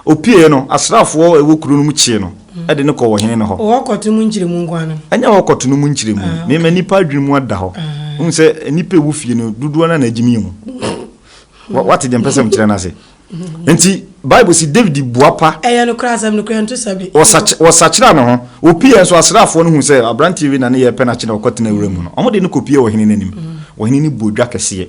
Opuee no, asraafoɔ a ɛwɔ kuro no mu kyee no de no kɔɔ ɔhene no hɔ. Hɔ kɔto mu nkyerɛmu nko ara no? Ɛnyɛ hɔ kɔto no mu nkyerɛmu. Mema nnipa adwene mu ada hɔ. Wohu sɛ nnipa a ɛwɔ fie no dodoɔ no ara na agye me ahu. Woate deɛ mpɛ sɛ mekyerɛ no ase? Enti Bible se Dawid bua pa. Ɛyɛ nokorɛ, asɛm no kura nto sabi. Wɔsakyera ne ho. Wɔpueeɛ nso, asraafoɔ no hu sɛ aberanteɛ wei na ne yɛrepɛ no akye na wɔkɔtena wura mu no, wɔde no kɔpuee ɔhene no anim. Ɔhene no bɔɔ dwa kɛseɛ.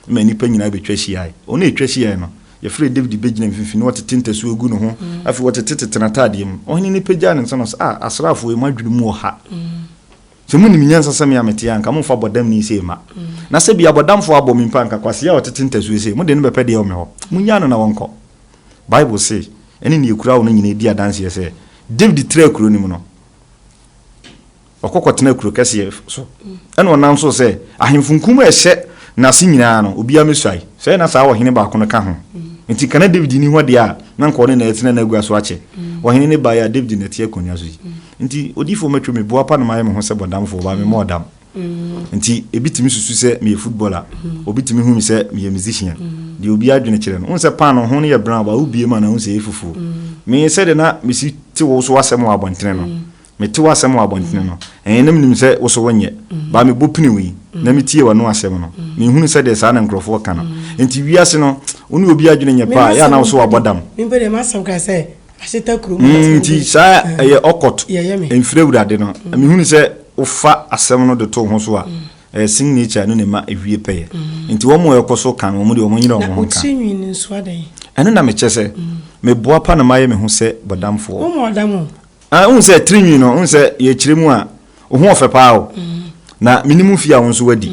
ma nnipa nyinaa bɛtwa hyiae. Wɔn a ɛtwa hyiae no, yɛfrɛɛ Dawid bɛgyinaa mfimfini na ɔtete ntasuo gu ne ho. Afei ɔtete tete n'ataadeɛ mu. Ɔhene no pagyaa ne nsa na ɔse, A, asraafoɔ yi, mo adwene mu wɔ ha. Sɛ monim nyansa sɛ me a mete ha a, anka mommfa bɔdamni sei mma. Na sɛ bi abɔdamfoɔ abɔ me mpo a, anka kwasea a ɔtete ntasuo sei, mode no bɛpɛ deɛ ɛwɔ me hɔ. Monnyaa no na ɔnkɔ. Bible se, Ɛne nea ɛkura wo no nyinaa di adanseɛ sɛ, Dawid traa kuro no mu no, Ɔkɔ kɔtena kuro kɛseɛ so, ɛna ɔnam so sɛ, Ahemfo nkum a ɛhyɛ n'ase nyinaa no, obiara mmɛsuae. Sɛɛ na saa ɔhene baako no ka ho. Enti ka na Dawid nni hɔ deɛ a, na anka ɔne na atena n'agua so akyɛ. Ɔhene no baeɛ a, Dawid na ɛte akonnwa so yi. Enti odiyifoɔ mɛtwo me boapa na mayɛ me ho sɛ bɔdamfoɔ, baa memmɔɔ dam. Enti ebi tumi susu sɛ meyɛ footballer, obi tumi hu me sɛ meyɛ musician. Deɛ obiara dwene kyerɛ no. Wohu sɛ paanoo ho no yɛ brown, baa wobue mu a na wohu sɛ ɛyɛ fufuo. Me, sɛdeɛ na mesi te wo so asɛm wɔ abɔntene no, Mete w'asɛm wɔ abɔntene no, ɛɛ, na menim sɛ wo so wonyɛ. Baa mebɔ pini wo yi, na metie w'ano asɛm no, menhunu sɛ deɛ saa na nkurɔfoɔ ka no. Enti wiase no, wo ne obi adwene nyɛ pɛ a, ɛyɛ a na wo so wabɔ dam. Mm, enti saa ɛyɛ ɔkɔt, mfiri Awurade no. Mehunu sɛ wofa asɛm no de to wo ho so a, ɛɛ, sin nature no na ɛma ɛwie pɛyɛ. Enti wɔn a wɔkɔ so ka no, wɔn deɛ wɔnyere wɔn ho nka. Ɛno na mekyɛ sɛ meboa pa na mayɛ me ho sɛ bɔdamfoɔ. Ah, wohu sɛ tirinwi no, wohu sɛ yɛkyerɛ mu a, wo ho ɔfɛ paa o. Na menim fie a wo nso wadi.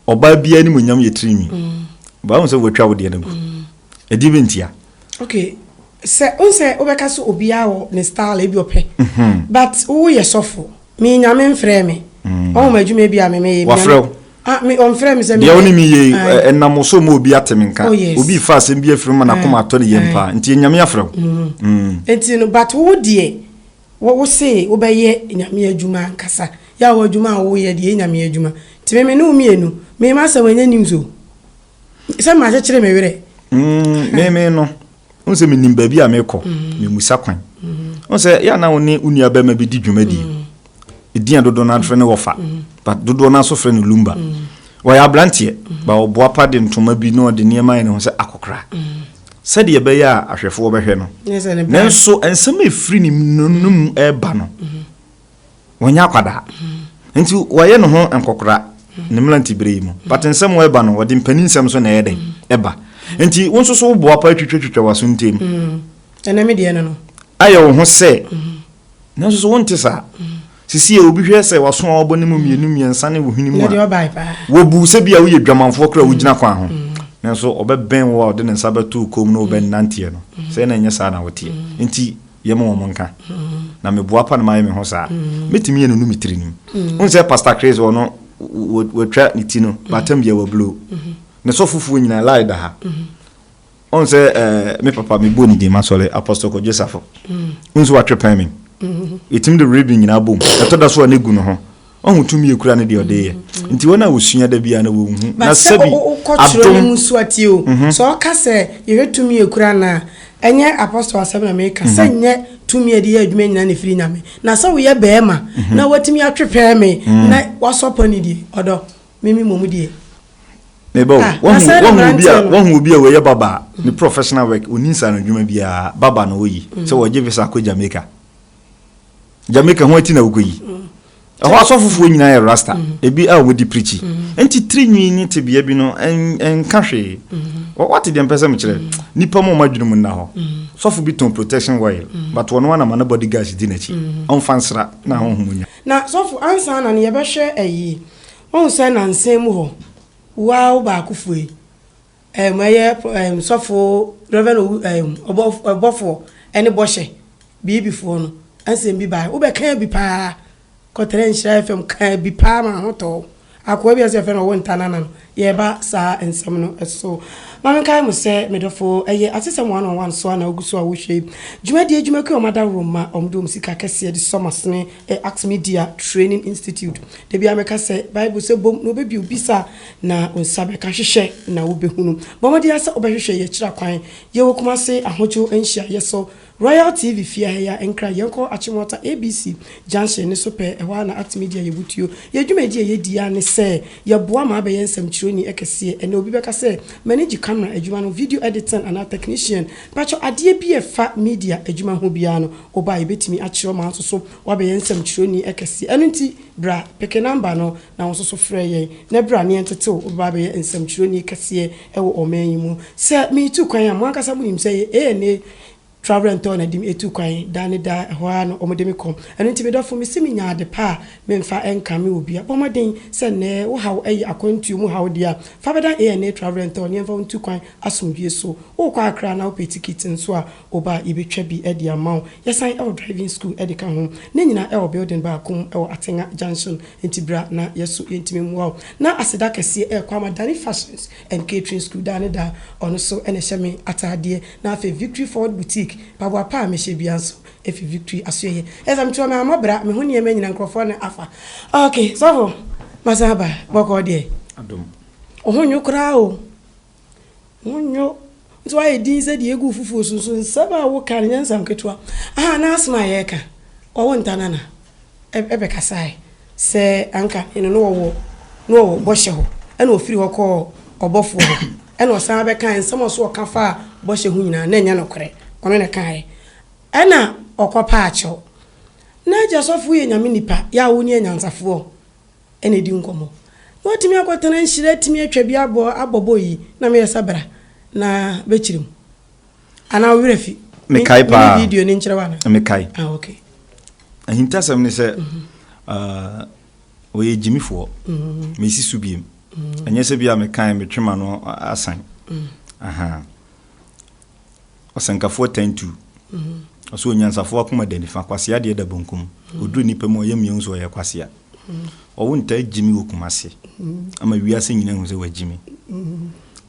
Ɔbaa biara anim onyam yɛ tirinwi. Ba wohu sɛ wɔatwa wo deɛ no agu. Ɛdeɛ bi ntia. Okay, sɛ wohu sɛ wobɛka sɛ obiara wɔ ne style ebi ɔpɛ. But woyɛ sɔfo. Me nyame mfrɛɛ me. Mm. Ɔhom adwuma bi a me meyɛ. Wafrɛ wo? Ah, me ɔmfrɛ me sɛ me. Deɛ wo ne me yie ɛnam wo so ma obi ate me nka. Oh, yes. Obi fa asɛm bi afiri mu ma n'akoma mm. atɔ ne yam mm. paa. Nti nyame afrɛ wo. Mm. Nti no but wo deɛ wo se wobɛyɛ nyame adwuma ankasa. Yɛ a wo adwuma a woyɛ deɛ nyame adwuma. Nti me me ne wo mmienu. Me ma asɛm ɛnyɛ news o. Sɛ ma akyekyere me werɛ. Mm, me me no. Wohu sɛ menim baabi a mekɔ, memusa kwan. Wohu sɛ yɛ na wo ne wo nua bɛma bi di dwumadi. Ɛdin a dodoɔ no afrɛ no wɔfa, but dodoɔ no aso frɛ no lumba. Wɔyɛ aberanteɛ, ba ɔboa pa de ntoma bi na ɔde nneɛma ayɛ ne ho sɛ akɔkora. Sɛdeɛ ɛbɛyɛ a ahwɛfoɔ bɛhwɛ no. Nanso nsɛm a ɛfiri ne mu ɛreba no. Ɔnyɛ akwadaa. Nti ɔyɛ ne ho nkɔkora ne mmeranteberɛ yi mu. But nsɛm a ɛba no, ɔde mpanin nsɛm nso na ɛyɛ dɛn? Ɛba. Nti wo nso so wo boapa atwitwatwitwa w'aso ntam. Ɛnɛ me deɛ no no. Ayɛ wo ho sɛ. Nanso so wonte saa? Sisi yɛ obi hwɛ sɛ w'aso a wabɔ ne mu mmienu mmiɛnsa ne wo hwene mu a. Wɔbu sɛ bi a woyɛ dwamanfoɔ koraa a wogyina kwan ho. Nanso ɔbɛbɛn wo a ɔde ne nsa bɛto wo kɔn mu na wobɛnanteɛ no. Sɛ na ɛnyɛ saa na woteɛ. Nti. yɛ ma wɔn nka na meboa pa na mayɛ me ho saa mɛtumi yɛ no no me tiri nim wohu sɛ pastor chris ɔno watwa ne ti no batam bia wablo ne sɔfofoɔ nyinaa lai da ha ɔn sɛ eh, me papa mebɔ ne din masɔre apostle kɔgye safo wohu sɛ watwe pɛn me ɛtumi de rebe nyinaa bom ɛtɔ da so a ne gu no ho Ɔhu tumi yɛ kura ne deɛ ɔde yɛ. Nti wɔn a wɔsua da biara na wɔnhu. Na sɛbi adom. But sɛ wokɔtwerɛ no mu so a tie o. Sɛ ɔka sɛ Yehowa tumi yɛ kura no a, ɛnyɛ Apostle asɛm na meka. Sɛ nyɛ tumi a ɛde yɛ adwuma nyinaa na ɛfiri Nyame. Na sɛ woyɛ barima na woatumi atwe pɛɛme na woasɔ pɔ no deɛ, ɔdɔ, me me mmom deɛ. Meba o. Ah, na sɛ ne mmeranteɛ no. Woahu obi a wɔyɛ baba a, ne professional work, ɔnni nsaanodwuma biara, baba na ɔyi. Sɛ wɔgye visa kɔ Jamaica. Jamaica ho ati na wokɔ yi. Ɛhɔ asɔfofoɔ nyinaa yɛ rasta. Mm-hmm. Ebi a wɔdi pirikyi. Mm-hmm. Nti tirinwi ne tebea bi no nka hwee. Mm-hmm. Wate deɛ mpɛ sɛ mekyerɛ. Nipa mu ɔma adwene mu nna hɔ. Sɔfo bi tɔn protection oil. But wɔn anama ne body gas di n'akyi. Ɔnfa nsra na ahohom nya. Na sɔfo ansa na ne yɛbɛhwɛ ayi. Wɔn sɛ nansan mu hɔ. Waa wo baako fue. Ɛɛm ɛyɛ pɔ ɛɛm sɔfoɔ Rev Owu ɛɛm ɔbɔf ɔbɔfoɔ ɛne bɔhyɛ biibi foɔ no asɛm bi baeɛ wo bɛ kaa bi paa kɔ tɛrɛ nhyira FM kaa bi paa maa ho tɔɔ akoa bi a sɛ yɛfrɛ no Ɔwonta Nana no yɛ ba saa nsɛm no so ma me nkae mo sɛ me dɔfoɔ ɛyɛ atesɛm one on one so a na wogu so a wo hwɛ yi dwumadie adwumakuo a wɔn adaworo mma wɔn de wɔn sika kɛseɛ de sɔ masene ɛ Acts Media Training Institute da biara mɛka sɛ Bible sɛ bom na wɔbɛbio bisa Na wo nsa bɛka hwehwɛ na wobɛhunu. Bɔ mmɔden ara sɛ wobɛhwehwɛ yɛn akyiri akwan. Yɛwɔ Kumase Ahodwo Nhyiaeɛ so, Royal TV fie ha yi ara nkran, yɛnkɔ Akyemwater ABC junction no so pɛɛ, ɛhɔ ara na Act Media yɛ botuo. Yɛn dwumadie a yɛdi ara ne sɛ yɛboa ma abɛyɛ nsɛmtwerɛni kɛseɛ. Ɛnnɛ obi bɛka sɛ, M'ani gye camera adwuma no ho, video editing anaa technician. Mpakyɛw, adeɛ bi a ɛfa media adwuma ho biara no, wo ba a yɛbɛtumi akyerɛ wo ma wo nso so woabɛyɛ nsɛmtwerɛni kɛseɛ. Ɛno nti bra, peke number no. na wo nso so frɛ yɛn na bra na yɛntetew wo bɛba abɛyɛ nsɛmtwerɛni kɛseɛ wɔ ɔman yi mu. Sɛ meretu kwan a, mo ankasa monim sɛ ANA Travel and Tour na ɛde me tu kwan da ne da, ɛhɔ ara na wɔde me kɔ. Ɛno nti, me dɔfo, mese menya ade pa a memfa nkame obiara. Bɔ mmɔden sɛ nnɛ wo haw yɛ akwantuo mu haw deɛ a, fa bɛda ANA Travel and Tour na yɛmfa wo ntu kwan asomdwoeɛ so. Worekɔ Accra na wopɛ tikiti nso a, Wo ba a yebetwa bi de ama wo. Yɛsan wɔ driving school de ka ho. Ne nyinaa wɔ building baako mu wɔ Atengha Junction. Enti bra na yɛso yentumi mmoa wo. Na aseda kɛseɛ ɛyɛ Kwama Dani Fashions and Catering School daa ne daa. Ɔno so na ɛhyɛ me ataadeɛ. Na afei Victory Forward Boutique, mpaboa pa a mehyɛ biara nso fi Victory asoɛeɛ. Ɛyɛ sɛ meto ɔman amabra, me ho nneɛma nyinaa nkurɔfoɔ na afa. Okay, sɔfo, masan aba. Bɔkɔɔ deɛ? Adom. Wo ho nnwo koraa o. Wonyo, nso ayɛ dinn sɛ deɛ egu fufuo so, nso nsɛm a woka no nyɛ nsɛm ketewa. Ahaa, na asem a yɛreka, wɔwo Ntanana ɛ bɛkasaeɛ sɛ anka ne no na wɔwɔ, na wɔwɔ bɔhyɛ hɔ, ɛna ɔfiri hɔ kɔɔ ɔbɔfoɔ hɔ, ɛna ɔsan abɛkaeɛ, nsɛm a ɔse ɔka faa bɔhyɛ ho nyinaa, na ɛnyɛ nokorɛ, ɔno na ɛkaeɛ. Ɛna ɔkɔpaa kyɛw. N'agya sɔfoɔ yɛ Nyame nipa, yɛ a wone anyansafoɔ, na ɛdi nkɔmmɔ. Na watumi akɔtena nhyira atumi atwa bi abɔ abɔ bɔ yi na meyɛ sabra na bɛkyiri mu anaa wo werɛ fi mekae paa video no nkyerɛ wana mekae ah, okay. ahintasɛm ne sɛ mm -hmm. uh, ɔyɛ gyimifoɔ mm-hmm. mesi so biem mm-hmm. ɛnyɛ sɛ bia mekan metwema no asan mm. aha Ɔsɛnkafoɔ tan tu. Ɔsɛ onyansafoɔ akoma da nifa, kwasea deɛ da bonkum. Ɔduru nipa mu a, ɔyɛ mmea hu sɛ ɔyɛ kwasea. Ɔwo ntaa gyi me wɔ Kumasi ama wiase nyina hu sɛ wagyi me.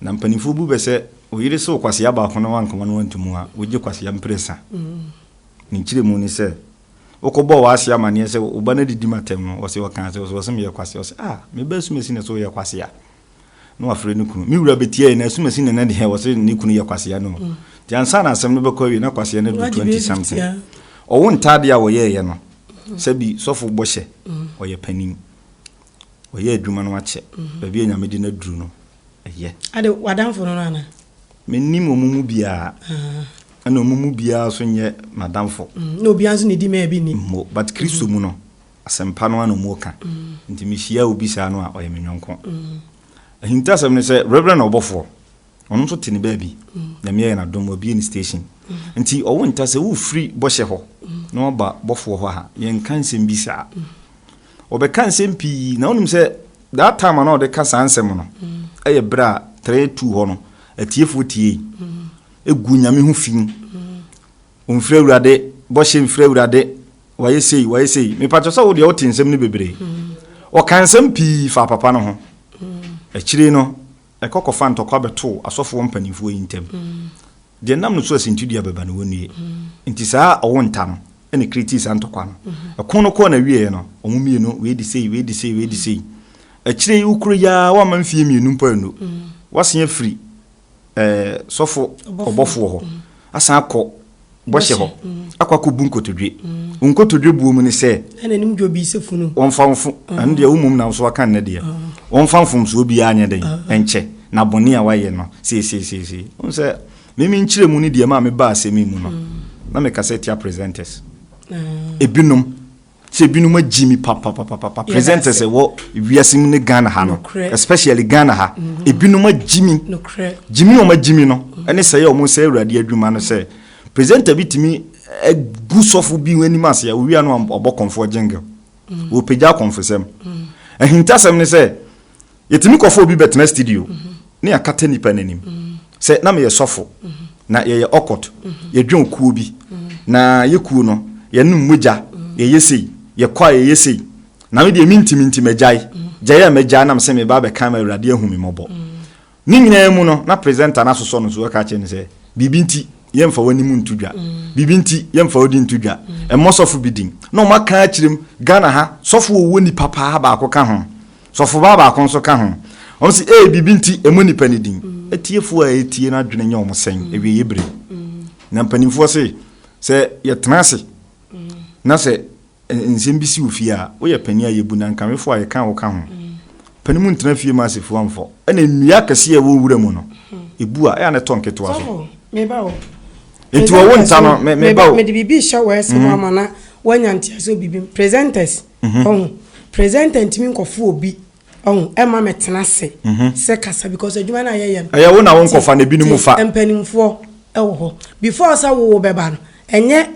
Na mpanimfoɔ bu bɛ sɛ wo yere se wo kwasea baako na wankama no anto mu a, wogye kwasea mprɛsa. Ne nkyerɛmu ne sɛ, wokɔbɔɔ w'ase amaneɛ sɛ wo ba no adidi m'atɛm no, ɔse ɔkaa sɛ, ɔse ɔse meyɛ kwasea. Ɔse, ah, me ba asumasi na ɛsɛ ɔyɛ kwasea. na wafrɛ ne kunu. Me wura betiae na asumasin na na deɛ wɔse ne kunu yɛ kwasea no. Nti ansa na asɛm no bɛkɔ awie na kwasea no adu 20 something. Ɔwo ntaadeɛ a wɔyɛeɛ no, sɛbi sɔfo bɔ hyɛ, ɔyɛ panin. Wayɛ adwuma no akyɛ. Baabi a Nyame de no aduru no, ɛyɛ. Ade w'adamfo no no anaa? Mennim wɔn mu biara. Ɛna wɔn mu biara nso nyɛ m'adamfo. Na obiara nso na edi me a ɛbi nni. Mmo. But Kristo mu no, Asɛmpa no ara na wɔka. Nti mehyia obi saa no a, ɔyɛ me yɔnko. Ahintasɛm ne sɛ, Reverend ɔbɔfoɔ, ɔno nso te ne baabi. Nyame ayɛ no adom, wabue ne station. Nti ɔwo nta sɛ wofiri bɔhyɛ hɔ na waba bɔfoɔ hɔ ha, yɛnka nsɛm bi saa. Wɔbɛka nsɛm pii, na wonim sɛ, that time a na wɔde ka saa nsɛm no, ɛyɛ berɛ a Trɛɛ tuu hɔ no, atiefoɔ tiei. Ɛgu Nyame ho fi. Ɔmfiri Awurade, bɔhyɛ mfiri Awurade. Wayɛ sei, wayɛ sei. Mepakyɛ sɛ wo deɛ wote nsɛm no bebree. Ɔka nsɛm pii faa papa no ho. Akyire no, ɛkɔ kɔfa ntɔkwa bɛtoo asɔfoɔ mpanimfoɔ yi ntam. Deɛ nam no so asintidua bɛba no, wɔnnue. Enti saa ɔwo nta no na ɛkretii saa ntɔkwa no. Ɛko no kɔɔ n'awieeɛ no, wɔn mmienu, wei de sei, wei de sei, wei de sei. Akyire yi, wokuro yi ara, woamma mfeɛ mmienu mpo annu, woasen afiri. ɛɛ sɔfo ɔbɔfo wɔ hɔ, asan akɔ bɔhyɛ hɔ, akɔ akɔbu nkotodwe. Wo nkotodwe buo mu ne sɛ, wɔmfa mfo, ɛno deɛ wo mmom na wo so aka nnɛ deɛ, wɔmfa mfomsoɔ biara nyɛ dɛn, nkyɛ, na bɔne a wayɛ no seesei, seesei. Wohu sɛ, me me nkyerɛmu ne deɛ ɛmaa mebaa asɛm yi mu no, na mekasa tia presenters. Ebinom, Sɛ binom agyi me papapapapa presenters ɛwɔ wiase mu ne Ghana ha no especially Ghana ha mm-hmm. ebinom agyi me gyi me wɔn agyi me no mm-hmm. ɛne sɛ yɛ wɔn sɛ awurade adwuma no sɛ presenter bi tumi egu sɔfo bi wɔn anim ase a owia no ɔbɔ kɔnfoɔ jingle wɔpagya kɔnfosɛm ahintasɛm ne sɛ. Yɛtumi kɔfa obi bɛtena studio ne yɛakata nnipa no anim. Sɛ na meyɛ sɔfo na yɛyɛ ɔkɔt, yɛdwɔn kuo bi na yɛ kuo no yɛnom mogya, yɛyɛ sei, yɛkɔ a yɛyɛ sei. Na me deɛ mentimi nti magyae. Gyae a magyae na mesɛ mereba abɛka ama Awurade ahu me mmɔbɔ. Ne nyinaa mu no na presenter no asosɔ no so aka akyerɛ no sɛ, biribi nti yɛmfa w'anim nto dwa, biribi nti yɛmfa wo din nto dwa, mmɔ sɔfo bi din. Na wɔaka akyerɛ mu, Ghana ha sɔfo a ɔwɔ nipa paa baako ka ho. Sɔfobaa baako nso ka ho. Ɔse, Ee, biribi nti, ɛmmɔ nnipa no din. Atiefoɔ a ɛretie no adwene nyɛ wɔn sɛn awieeɛ berɛ yi? Na mpanimfoɔ se, Sɛ yɛtena ase na sɛ nsɛm bi si wo fie a, woyɛ panin a yɛbu, na nkamefoɔ a yɛka a woka ho. Panin mu ntena fie mma asefuo amfɔ. Ɛna nnua akɛseɛ a ɛwɔ nwura mu no, ɛbu a, ɛyɛ a na ɛtɔ nketewa so. Enti wɔwo nta no, meba o. Mede biribi rehyɛ w'aseɛ mu ama na woanya nteaseɛ wɔ biribi mu. Presenters. Ɔho presenter ntumi nkɔfo obi ɔho ɛma me tena se sɛ kasa because adwuma na yɛyɛ no. Ɛyɛ wo na wo nkɔfa na ebinom fa. Te mpanimfoɔ ɛwɔ hɔ before sɛ wo bɛba no ɛnyɛ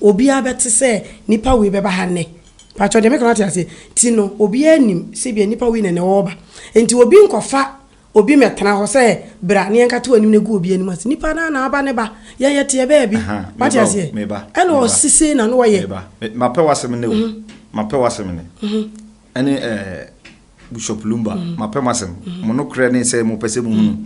obiara bɛte sɛ nipa wei bɛba ha nnɛ patro deɛ meka no wate aseɛ ti no obiara nim sɛ bia nipa wei na nɛ ɔɔba nti obi nkɔfa Obi mɛtena hɔ sɛ bra ne yɛnkate w'anim na gu obi anim ase nipa naa na aba ne ba yɛyɛ teɛ bɛɛ bi wate aseɛ ɛna ɔsi sei na no ɔyɛ. Mapɛ w'asɛm ne o mapɛ w'asɛm ne ɛne ɛɛ Bishop Lumba mapɛ mo asɛm mo no korɛ ne sɛ mo pɛ sɛ mo hunu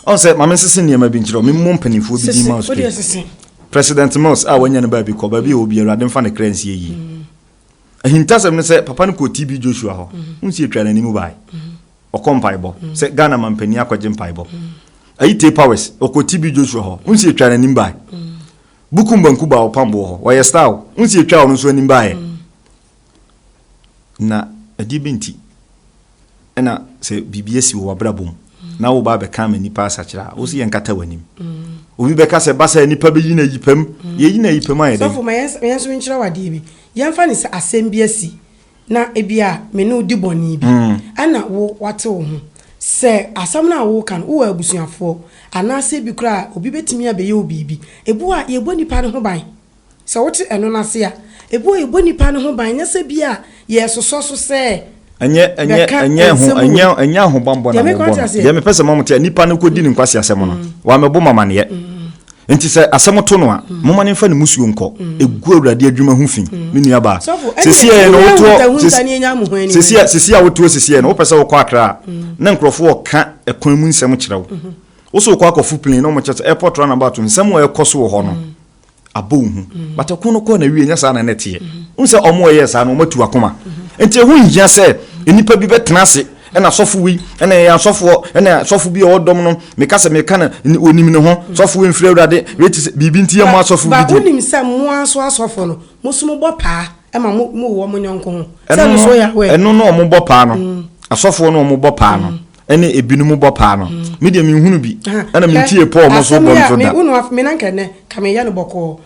ɔn sɛ maame nsese nneɛma bi nkyerɛ ɔmo mmɔ mpanimfoɔ bi din ma ɔsɛ President Mills a wanya no baabi kɔ baabi a obi awurade nfa ne kra nsie yie ahintasɛm ne sɛ papa no kɔ TB Joshua hɔ nsi atwa n'anim bae. ɔkɔ mpaebɔ mm. sɛ ghana ma mpanin akɔgye mpaebɔ mm. ayi te powers ɔkɔ tb joshua hɔ wonsi atwa n'anim bae mm. buku mbanku ba ɔpam boɔ hɔ ɔyɛ star o wonsi atwa ɔno nso anim baeɛ na ɛdeɛ bi nti ɛna sɛ biribi asi wɔ wabrabɔ mu na wo ba bɛka ma nipa asakyerɛ a wo si yɛ nkata w'anim obi bɛka sɛ basa nipa bɛyi na yipam yɛyi na yipam ayɛ dɛ sɔfo ma yɛn nso nkyerɛ wadeɛ bi yɛmfa ne sɛ asɛm bi asi Na ebia me ne wo di bɔne bi, ɛna wo wate wo ho. Sɛ asɛm no a woreka no, wowɔ abusuafoɔ, anaasɛ bi koraa a, obi bɛtumi abɛyɛ wo biribi. Ebu a yɛbɔ nnipa no ho ban, sɛ wote ɛno no ase a, ebu a yɛbɔ nnipa no ho ban nyɛ sɛ bi a yɛresosɔ so sɛ bɛka nsɛm wei. Ɛnyɛ ahobammɔ na mobɔ no. Deɛ mepɛ sɛ mo te, nipa no kɔdi ne nkwaseasɛm no, wamɛbɔ mo amaneɛ. Enti sɛ asɛm to no a, momma no mfa ne mmusuo nkɔ. Ɛgu Awurade adwuma ho fi, me nuabaa. Sesieɛ no wotoɔ, sesieɛ, sesieɛ a wotoɔ sesieɛ no, wopɛ sɛ wokɔ Accra a, na nkurɔfoɔ reka ɛkwan mu nsɛm kyerɛ wo. Wo so wokɔ akɔfo plane na wɔkyerɛ sɛ airport runabout, nsɛm a ɛrekɔ so wɔ hɔ no, abɔ wo hu. But ɛko no kɔ na wie, ɛnyɛ saa na na ɛteɛ. Wohu sɛ wɔn a wɔyɛɛ saa no, wɔatu akoma. Enti ɛho nhia sɛ nnipa bi bɛtena ase, Ɛna asɔfo wei, ɛna ɛyɛ asɔfoɔ, ɛna asɔfo bi a ɔwɔ dɔm no, meka sɛ meka no, ɔnim ne ho, sɔfo wei mfiri Awurade, wei te sɛ biribi nti yɛ mo asɔfo bi deɛ. Ba wonim sɛ mo ara nso asɔfo no, mo nso mobɔ paa ma mo mo wɔ mo yɔnko ho, sɛ no nso yɛ awɛ. Ɛno na wɔbɔ paa no, asɔfoɔ no wɔbɔ paa no, ɛne ebinom bɔ paa no, me deɛ menhunu bi, ɛna mentiee Paul mo nso bɔ nto da. Asɛm yi a, wo no, me na nka ɛnnɛ, nka meyɛ no bɔkɔɔ,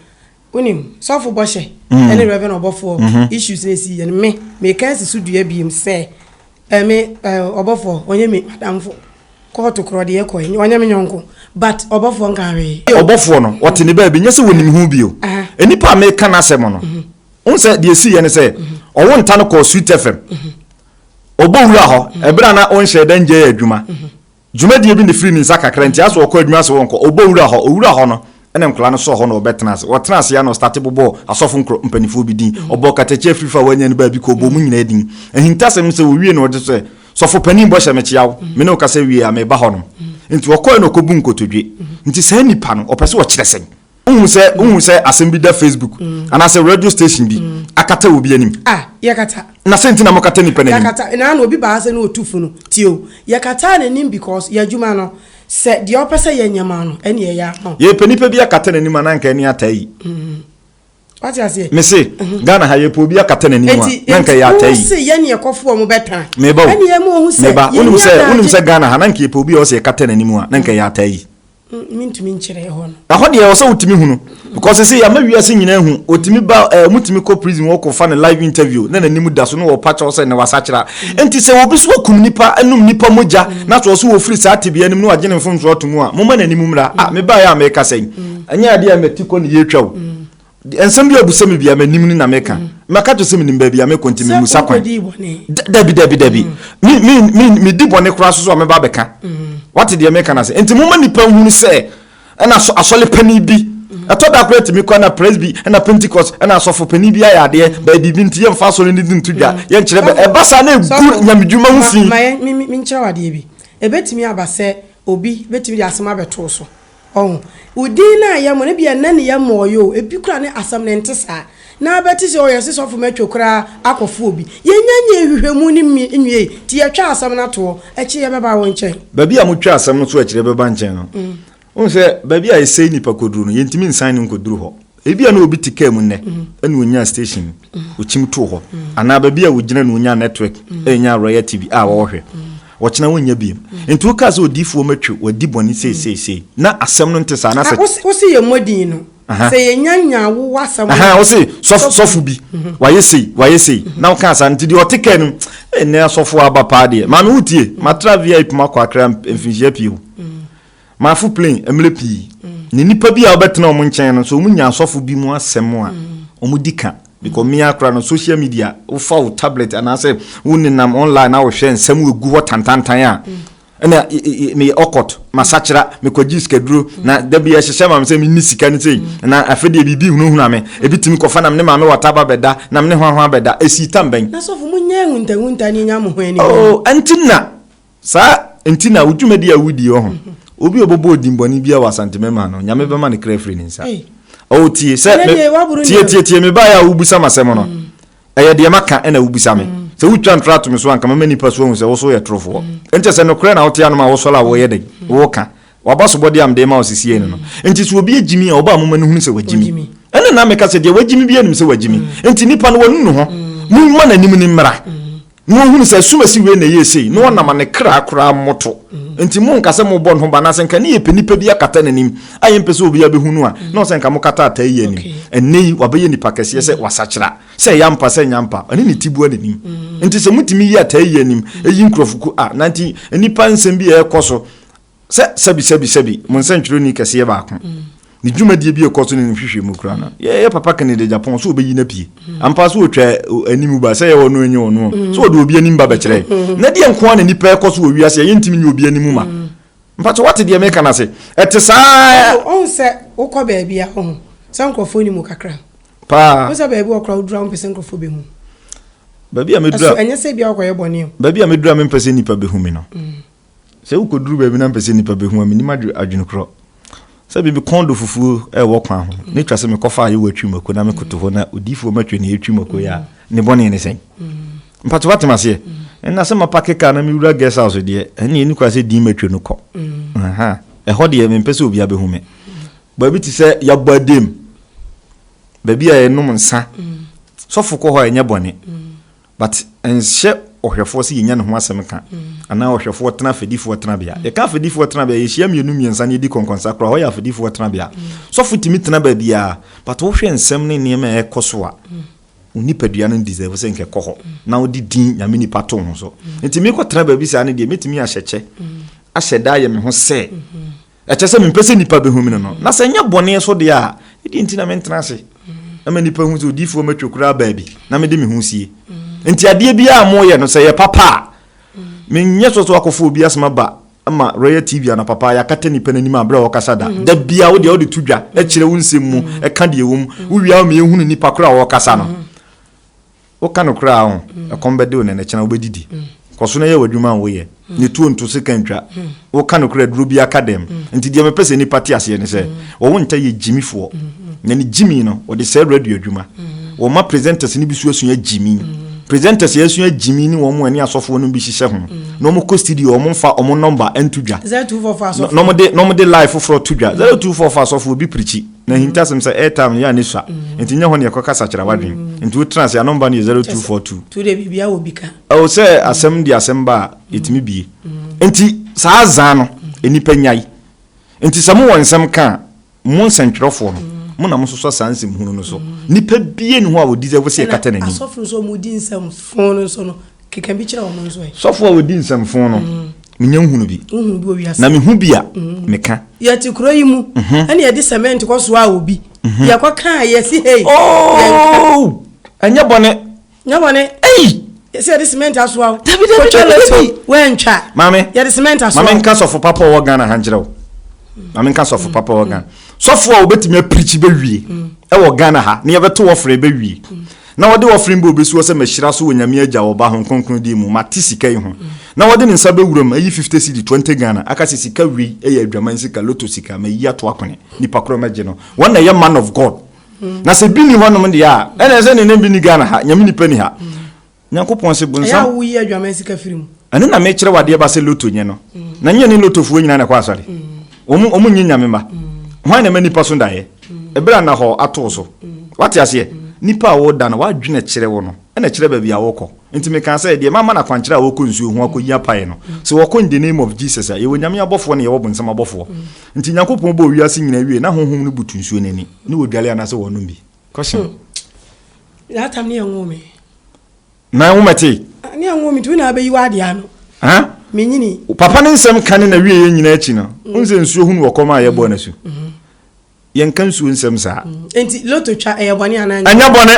Wonim, sɔfo bɔhyɛ ne reverend ɔbɔfoɔ issues na ɛsi yɛ no, me, meka asi so dua biem sɛ, eh, me, eh, ɔbɔfoɔ, ɔnyɛ me madamfo. Kɔɔto korɔ deɛ kɔɛ, ɔnyɛ me nyɔnko, but ɔbɔfoɔ nka hwee. Ɔbɔfoɔ no, ɔte ne baabi, nyɛ sɛ wɔnim ho bio. Nnipa a meka n'asɛm no, wohu sɛ deɛ ɛsi yɛ ne sɛ, ɔwo nta no kɔɔ Sweet FM, ɔbɔ wura hɔ, ɛberɛ a na wonhyɛɛ da nnyɛɛ adwuma. Dwumadie bi na ɛfiri ne nsa kakra nti aso ɔkɔ adwuma ase ɔnkɔ, ɔbɔ wura hɔ, ɔwura hɔ no na nkwadaa no sɔɔ hɔ na ɔbɛtena ase. Ɔtena ase ara na ɔstate bobɔɔ asɔfo nkuro mpaninfoɔ bi din, ɔbɔɔ katakyia afiri fa a wanya no baabi kɔɔ bɔɔ wɔn nyinaa din. Ahintasɛm no sɛ ɔwie no ɔde sɛ, Sɔfo panin bɔ hyɛ me kyea wo, me ne wo kasa wie a meba hɔnom. Nti ɔkɔɛ na ɔkɔbu nkotodwe. Nti saa nipa no ɔpɛ sɛ ɔkyerɛ sɛn? wohu sɛ wohu sɛ asɛm bi da facebook mm. anaasɛ radio station bi mm. akata wɔ bi anim ah, yɛkata na sɛ nti na mokata nipa no animyɛkata na na obi baa sɛ ne ɔtu funu tio yɛkata n'anim because yɛadwuma no sɛ deɛ ɔpɛ sɛ yɛnyɛ ma no ɛne ɛyɛ ama yɛpɛ nipa bi akata n'anim a na nka ɛne ata yi mm. wate aseɛ me se mhm. ghana ha yɛpɛ obi akata n'anim a na nka ɛyɛ ata yi se yɛne ɛkɔfoɔ mu bɛtan meba o meba wonim sɛ wonim sɛ ghana ha na nka yɛpɛ obi a ɔsɛ yɛkata n'anim a na nka ɛyɛ ata yi Mentumi nkyerɛ ɛhɔ no. Ɛhɔ deɛ ɛwɔ sɛ wotumi hu no because sese yɛama wiase nyinaa hu otumi ba ɛɛ eh, mutumi kɔ prison wɔ kɔ fa ne live interview na n'anim da so na wɔpa kyɛw sɛ na wasakyera nti sɛ obi so akum nipa anum nipa mogya na so ɔso wɔfiri saa tebea anim na wagye ne mfomso ato mu a moma n'anim mmra a mebaa yɛ a meka sɛn ɛnyɛ adeɛ a mɛti kɔ ne yɛtwa o Nsɛm bi a ɔbisa me bia m'anim ni na meka. Mm. Maka kyerɛ sɛ menim baabi a mekɔ nti memusa kwan. Dabi dabi dabi. Mm. Medi bɔne koraa so so a mɛba abɛka. Mm. Wate deɛ meka no ase. Nti moma nnipa nhunu sɛ ɛna asɔle pani bi mm. ɛtɔ da koraa tumi kɔ na presby ɛna pentecost ɛna asɔfo panyin bi ayɛ adeɛ bɛɛ biribi nti yɛmfa asɔre no di nto dwa yɛnkyerɛ bɛ ɛba saa na egu nyamedwuma ho fi. menkyerɛ wadeɛ bi ɛbɛtumi aba sɛ obi bɛtumi de asɛm abɛtoo so Ɔho. Wo din no a yɛmɔ no, ebia nnɛ ne yɛmɔɔ yɛ o, ebi koraa ne asɛm no nte saa. Ná bɛte sɛ, 'O, yɛse sɔfo matwa koraa akɔfa obi. Yɛnnya nyɛɛ nhwehwɛmu no nwiei, nti yɛtwaa asɛm no atoɔ. Akyire yɛbɛba wo nkyɛn. Baabi a motwaa asɛm no to akyire yɛbɛba nkyɛn no, wohu sɛ baabi a yɛsɛe nnipa kɔduru no, yɛntumi nsan no nkɔduru hɔ. Ebia na obi te kaa mu nnɛ na onyaa station okyim too hɔ anaa baabi a ogyina na onyaa network anya Royal TV a wɔhwɛ. Ɔkyena wonnya bio. Nti wokaa sɛ odiifoɔ matwi wadi bɔne sei sei sei na asɛm no nte saa na sɛ. Wose yɛmmɔ din no sɛ yɛnya nyaa wo w'asɛm no. Wose sɔfo sɔfo bi wayɛ sei wayɛ sei na wokaa saa nti deɛ ɔte kaa no mu nnɛ asɔfoɔ aba paa deɛ maame wotie matra VIP makɔ akra mfinhyia pii o. Maafo plane mmerɛ pii, na nnipa bi a wɔbɛtena wɔn nkyɛn no, sɛ wɔnya asɔfo bi mu asɛm a, wɔdi ka. Because mmea koraa no, social media, wofa wo tablet anaasɛ wonenam online na wohwɛ nsɛm a ɛgu hɔ tantantan a, ɛna meyɛ ɔkɔt, masakyera, mekɔgye sikaduro, na da bi ɛhyehyɛ ma me sɛ menni sika no sei, na afei deɛ biribi hunahuna me, ebi tumi kɔfa nam ne maame wata ba bɛda, nam ne hwanhwan bɛda. Ɛsii tam bɛn? Na sɔfo, monyɛ ahuntahunta ne ɛnya mo ho aniwu. Oh, ɛnti na Saa nti na wo dwumadi a wodi wɔ ho, obi a ɔbɛbɔ odimbɔne biara wɔ Asante Mɛma no, Nyame bɛma ne kra afiri ne nsa. Oh, tie, sɛ me, tie, tie, tie, me baeɛ a wobisa me asɛm no, ɛyɛ deɛ maka ɛna wobisa me. Sɛ wotwa ntorɔ ato me so a, anka mɛma nnipa su ahu sɛ wo so woyɛ torofoɔ. Nkyɛ sɛ nokorɛ na wote anom a wosɔre a woyɛ dɛn? Woka. W'abasobɔdeɛ a mede rema wo sesieɛ ni no. Nti sɛ obi agyi me a, ɔba a momma no nhunu sɛ wagyi me. Ɛnna na meka sɛ, Deɛ wagyi me biara nim sɛ wagyi me. Nti nnipa no, wanunu ho. Momma n'anim no mmra. na ɔhunu sɛ asumasi wei na ɛyɛ sei na ɔnam a ne kra koraa mmoto. Nti monka sɛ mobɔ ne ho ba, anaasɛ nka ne yɛpɛ nnipa bi akata n'anim a yɛmpɛ sɛ obiara bɛhu no a, na ɔsɛ nka mokata ataa yi anim. Ɛnnɛ yi, wabɛyɛ nipa kɛseɛ sɛ wasakyera, sɛ ɛyɛ ampa, sɛ ɛnyɛ ampa, ɔne ne tiboa na ɛnim. Nti sɛ motumi yi ataa yi anim, ɛyi nkurɔfoku a, na nti nnipa nsɛm bi a ɛrekɔ so sɛ sɛbi sɛbi sɛbi mo nsɛntwerɛni kɛseɛ baako ne dwumadie bi ɛkɔ so ne nhwehwɛ mu kura no yɛyɛ papa kane de japan so ɔbɛyi no apue ampa so ɔtwa anim ba sɛ yɛ ɔno ɛnyɛ ɔno sɛ ɔde obi anim ba bɛkyerɛ na deɛ nkoa na nipa ɛkɔ so wɔ wiase yɛyɛ ntimi nyɛ obi anim ma mpa so wate deɛ meka no ase ɛte saa ɔhu sɛ wokɔ baabi a ɔhu sɛ nkurɔfoɔ ni mu kakra paa wo sɛ baabi wɔkora wodura wo mpɛ sɛ nkurɔfoɔ bɛhu baabi a mɛdura ɛnyɛ sɛ bia wokɔyɛ bɔne baabi a mɛdura mempɛ sɛ nnipa bɛhu me no mm. Sɛ wukodur baabi na mepɛ sɛ nnipa behu a, minnim adwene korɔ sɛ biribi kɔn do fufuo wɔ kwan ho, na etwa sɛ mekɔfa ayewa twi mako na mekoto hɔ na odiyifoɔ mmɛtwe nea etwi mako yɛ a, mm. ne bɔne ne sɛn? Mm. Mpatso woate m'aseɛ? Mm. Ɛnna sɛ mapake kaa na mewura guest house deɛ, ɛnna ɛni kora sɛ din matwa no kɔ. Ɛhɔ deɛ mempɛ sɛ obiara bɛhu me. Baabi te sɛ yɛabɔ adam, baabi a yɛnom nsa, sɔfo kɔ hɔ a ɛnyɛ bɔne. But ɛnhyɛ ɔhwɛfoɔ sɛ yɛnya ne ho asɛm ka anaa ɔhwɛfoɔ tena afɛdifoɔ tenabea. Yɛka afɛdifoɔ tenabea, yɛhyia mmienu mmiɛnsa na yɛdi kɔnkɔnsa koraa, hɔ yɛ afɛdifoɔ tenabea. Sɔfo tumi tena baabiara, but wohwɛ nsɛm ne nneɛma a ɛkɔ so a, wo nipadua no deserve sɛ nka ɛkɔ hɔ na wode din Nyame nipa to ho so. Nti mekɔtena baabi saa no deɛ, mɛtumi ahyɛ kyɛ, ahyɛ da ayɛ me ho sɛ Ɛkyerɛ sɛ mempɛ sɛ nnipa bɛhu me no no. Na sɛ nyɛ bɔne so deɛ a, ɛdeɛ nti na mentena ase na ma nnipa hu sɛ odiyifoɔ matwa koraa baabi na mede me ho sie. Nti adeɛ biara a moyɛ no, sɛ yɛ papa a, menyɛ sɔ sɛ wakɔfa obi asɛm aba ma Royal TV ana papa yɛakata nnipa no anim a berɛ a wɔkasa da. Da biara wo deɛ wode to dwa, kyerɛ wo nsɛm mu, ka deɛ ɛwɔ mu, wowia a ma yɛhunu nnipa korɔ a wɔkasa no. Woka nokorɛ a, ɔho, ɛkɔm bɛde wo nɛnɛ kyena wobɛdidi. Kɔ so na yɛ w'adwuma a woyɛ, ne tuo nto seka ntwa. Woka nokorɛ aduro bi aka dɛm. Nti deɛ mepɛ sɛ nnipa te aseɛ ne sɛ, wɔ wo nta yɛ Gyimi foɔ. Na ne Gyimi no, wɔde sɛɛ radio adwuma. Wɔ ma presenters no bi so asua Gyimi. Presenters a asua Gyimi ne wɔn a ɛne asɔfoɔ nom bi hyehyɛ ho. Na wɔn kɔ studio a wɔn nfa wɔn number nto dwa. Na wɔn de live foforɔ to dwa. Zero two four fa asɔfoɔ bi pirikyi. Na ahintasɛm sɛ airtime no yɛ a ne sua. Nti nyɛ hɔ na yɛkɔ kasa kyerɛ w'adwen. Nti wo tena ase, ano mba no yɛ 0242. Nti wodeɛ biribiara wɔ bi ka. Ɛwɔ sɛ asɛm de asɛm ba a yɛtumi bie. Nti saa azaa no nnipa nyae. Nti sɛ mo wɔ nsɛm ka a, mo nsɛntwerɛfoɔ no, mo na mo sosɔ saa nsɛmhunu no so. Nnipa biara nni hɔ a ɔdisɛvo sɛ yɛkata n'anim. Ɛna asɔfo nso a wɔdi nsɛm foo no nso no, Keka bi kyerɛ wɔn nso ɛ. Sɔfo a odi nsɛmfo no, menya nhunu bi. Nhunu bi wɔ wiase. Na mehu bi a, meka. Yɛte kuro yi mu. Ɛna yɛde cement kɔ soa obi. Yɛkɔ kaa yɛsi hei. Oh! Ɛnyɛ bɔne. Nyɛ bɔne. Ei! Yɛsi yɛde cement asoa o. Dabi dabi dabi dabi. Wɛntwa. Maame. Yɛde cement asoa. Maame nka sɔfo papa wɔ Ghana ha nkyerɛ o. Maame nka sɔfo papa wɔ Ghana. Sɔfo a obetumi apirikyi bɛwie ɛwɔ Ghana ha ne yɛbɛto wɔfrɛ bɛwie. Na wɔde ɔferen bɔ obi soɔ sɛ mahyira so wɔ Nyame Agya, wɔ Ɔba, Hon Kronkron din mu, mate sika yi ho. Na wɔde ne nsa bɛwura mu, ayi fifte cedi, twenty Ghana, aka sɛ sika wei yɛ adwaman sika, lotto sika, mayi ato akone, nipa korɔ mɛgye no, wɔn na ɛyɛ man of God. Na sɛ bi nni hɔnom deɛ a, ɛne sɛ ne nan bi nni Ghana ha, Nyame nipa nni ha. Nyankopɔn se bonsam. Ɛyɛ a woyi adwaman sika firi mu. Ɛno na mekyerɛ wo adeɛ ba sɛ lotto nyɛ no. Na nyɛ ne lottofoɔ nyinaa na ɛkɔ asɔre. Wɔn, wɔn nyɛ Nyame mma. Hwan na ɛma nipa so daeɛ? Ɛberɛ a nahɔ ato wo so. Woate aseɛ? Nipa a woda no, w'adwene kyerɛ wo no na ɛkyerɛ baabi a wokɔ. Nti mekaa sɛ, deɛ mama no akwankyerɛ a ɔkɔ nsuo ho akɔyi apaeɛ no, sɛ wɔkɔ in the name of Jesus a, yɛwɔ Nyame abɔfoɔ na yɛwɔ bonsam abɔfoɔ. Nti Nyankopɔn bɔɔ wiase nyinaa wiee na honhom no butu nsuo no ani, ne wɔdwale anaasɛ wɔnom bi. Question. That time ne ɛnwoo me. Na ɛnwo mɛtee. Ne ɛnwo me nti wo na abɛyi w'adeɛ ano. Huh? Menyini. Papa ne nsɛm ka ne na wieɛ nyinaa akyi no, wohu sɛ nsuo ho ne wɔkɔm a yɛbɔɔ no asu. Yɛnka nsuo nsɛm saa. Mm. Nti loto twa ɛyɛ bɔne anaa nyɛ? Ɛnyɛ bɔne.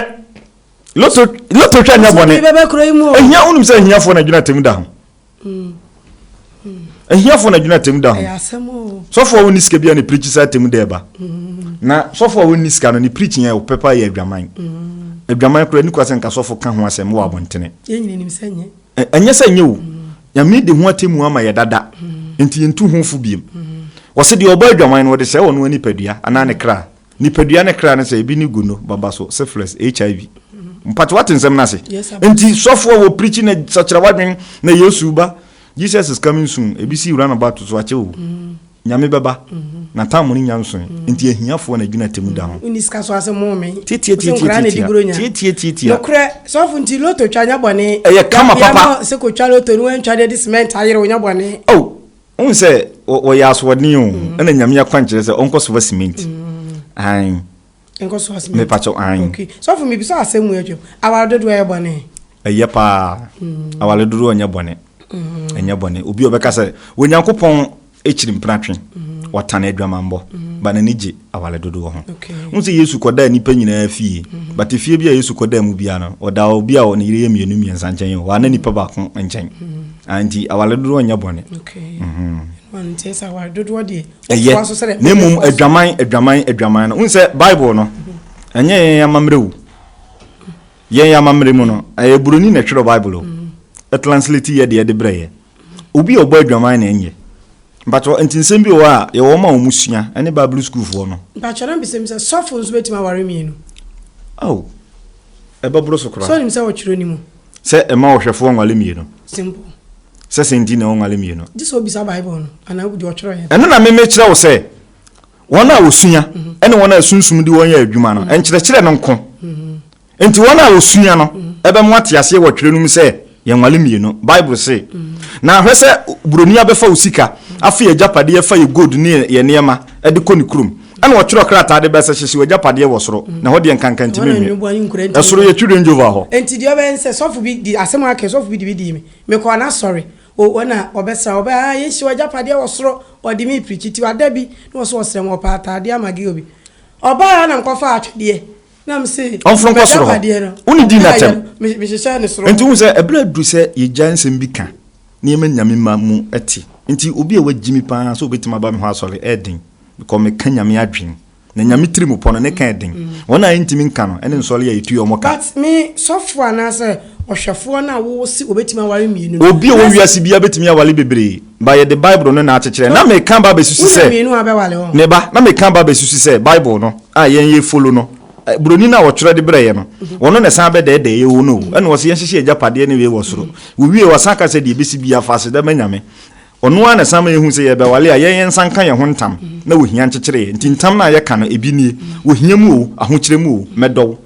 Loto loto twa nyɛ bɔne. Nti bɛbɛ kuro yi mu o. Ehia wonim sɛ ehiafoɔ na gyina tɛm da ho. Mm. Mm. Ehiafoɔ na gyina tɛm da ho. Ɛyɛ asɛm o. Sɔfo a wɔnni sika bi a ne pirikyi saa tɛm da ɛba. Mm. Na sɔfo a wɔnni sika no ne pirikyi yɛ ɔpɛ paa yɛ adwaman. Mm. Adwaman koraa nikwa sɛ nka sɔfo ka ho asɛm wɔ abɔntene. Yɛn nyina nim sɛ nyɛ. Ɛnyɛ sɛ ɛnyɛ o, Nyame de ho atemmu ama yɛ dada, enti yentu ho fo bio. Wɔse deɛ ɔbɔ adwaman no, wɔde sɛe ɔno ara nipadua anaa ne kra. Nipadua ne kra ne sɛ, ebi ne gono, babaso, syphilis, HIV. Mpakyɛ woate nsɛm no ase? Enti sɔfo a wɔpreachi na sakyera w'adwene na Yesu reba, Jesus is coming soon, ebi si roundabout so, akyɛ o. Nyame bɛba, n'ataamone nya nsoe, enti ahiafoɔ na gyina atemmu da ho. Wonni sika so ase mo me. Tietie tietie nkoraa na di buronya. Tietie tietie. Nokorɛ sɔfo nti loto twa nyɛ bɔne. Ɛyɛ kama papa. Yɛma sɛ kɔ twa loto no wantwa de de cement ayere wo nyɛ bɔne. Oh wohu sɛ wɔyɛ asoɔden o ɛna Nyame akwankyerɛ sɛ ɔnkɔ sofa cement aane. Nkɔ so asɛm. Mepakyɛw ahen. Okay. Sɔfo mebisa asɛm mu atwam. Aware dodoɔ yɛ bɔne? Ɛyɛ paa. Mm. Aware dodoɔ nyɛ bɔne. Mm. Ɛnyɛ bɔne. Obi ɔbɛka sɛ Onyankopɔn akyiri mpratwe. Mm. Ɔtan adwamammɔ. Mm. Ba n'ani gye aware dodoɔ ho. Okay. Wo sɛ Yesu kɔdaa nnipa nyinaa fie. Mm. But efie bi a Yesu kɔdaa mu biara no, ɔdaa obi a ne yere yɛ mmienu mmiɛnsa nkyɛn o. Ɔana nipa baako nkyɛn. Mm. Anti aware dodoɔ nyɛ bɔne. Okay. Mm -hmm. Nti sɛ aware dodoɔ deɛ ɛyɛ na mmom adwaman adwaman adwaman no wohu sɛ bible no ɛnyɛ yɛn amammerɛ wu yɛn amammerɛ mu no ɛyɛ buroni na ɛtwerɛ bible o ɛtranslate yɛ deɛ de berɛ yɛ obi a ɔbɔ adwaman na ɛnyɛ mpatwɛ nti nsɛm bi wɔ a yɛwɔ ma wɔn sua ɛne bible sukuufoɔ no mpatwɛ na mbisɛm sɛ sɔfo nso bɛtumi aware mmienu oh ɛbɛboro so koraa sɛ ɔnim sɛ wɔtwerɛ ne mu Sɛ mma ɔhwɛfoɔ nwale mmienu. Simple. Sɛ sɛn nti na ɔnwale mmienu? Gye sɛ ɔbisa Bible no anaa obi deɛ ɔtwerɛ yɛ. Ɛno na me mekyerɛ wo sɛ wɔn a wɔsua ne wɔn a sunsum de wɔn yɛ adwuma no nkyerɛkyerɛ no nko nti wɔn a wɔsua no ɛbɛmo ate aseɛ wɔ twerɛ no mu sɛ yɛnwale mmienu Bible se na hwɛ sɛ buroni abɛfa wo sika afa yɛ agyapadeɛ fa yɛ gold ne yɛ nneɛma de kɔ ne kurom Ɛna ɔtwerɛ krataa de bɛ sɛ, Hyehye w'agyapadeɛ wɔ soro, na ɛhɔ deɛ nkanka ntumi nwie. Ɛsoro yɛ children jova hɔ. Enti deɛ ɔbɛyɛ ne sɛ, sɔfo bi de asɛm a ɔaka, sɔfo bi de bi dii me. Mekɔɔ n'asɔre. O, ɔna ɔbɛsra, ɔbɛ, ah, yɛnhye w'agyapadeɛ wɔ soro. Ɔde me repreachi. Tiwa da bi, na ɔso ɔsrɛ me, ɔpɛ ataadeɛ ama girl bi. Ɔbaeɛ a na mekɔfaa atwedeɛ, na mese, Ɔmforo nkɔ soro hɔ. Wo ne dii no atɛm. Mehyehyɛɛ no soro hɔ. Enti wohu sɛ, ɛberɛ aduru sɛ yɛgyae nsɛm bi ka, na yɛma Nyame mma mu te. Enti obi a wagye me pa ara sɛ ɔbɛtumi aba me hɔ asɔre, ɛyɛ den. Because me ka nyame adwen. Na nyame tiri mu pɔ no ne ka ɛden. Wɔn a ɛntimi nka no ɛne nsɔle a ɛtu yɛ wɔn ka. But me sɔfoɔ anaasɛ ɔhwɛfoɔ no a wo se obetumi aware mmienu no. Obi a ɔwɔ wiase biara betumi awale bebree but yɛde bible no na akyekyerɛ. Na me ka ba abɛsusu sɛ. Wonya mmienu a wobɛwale wɔn. Me ba, na me ka ba abɛsusu sɛ bible no a yɛn yɛ follow no, broni no a ɔtwerɛ de brɛɛ yɛ no, ɔno na ɛsan bɛdɛɛdɛɛ yɛ o no o. Ɛna ɔse yɛnhyehyɛ agyapadeɛ ne wei wɔ soro. Wowiee ɔsan ka sɛ deɛ ɛbɛsi biara fa aseda ma nyame. Ɔno ara na ɛsan ma yɛhu sɛ yɛrebɛwale a, yɛn yɛn nsa nka yɛn ho ntam na wɔhia nkyekyere yɛn. Nti ntam no a yɛka no, ebi nie, wɔhia mu o, ahokyerɛ mu o, mɛdɔ wo,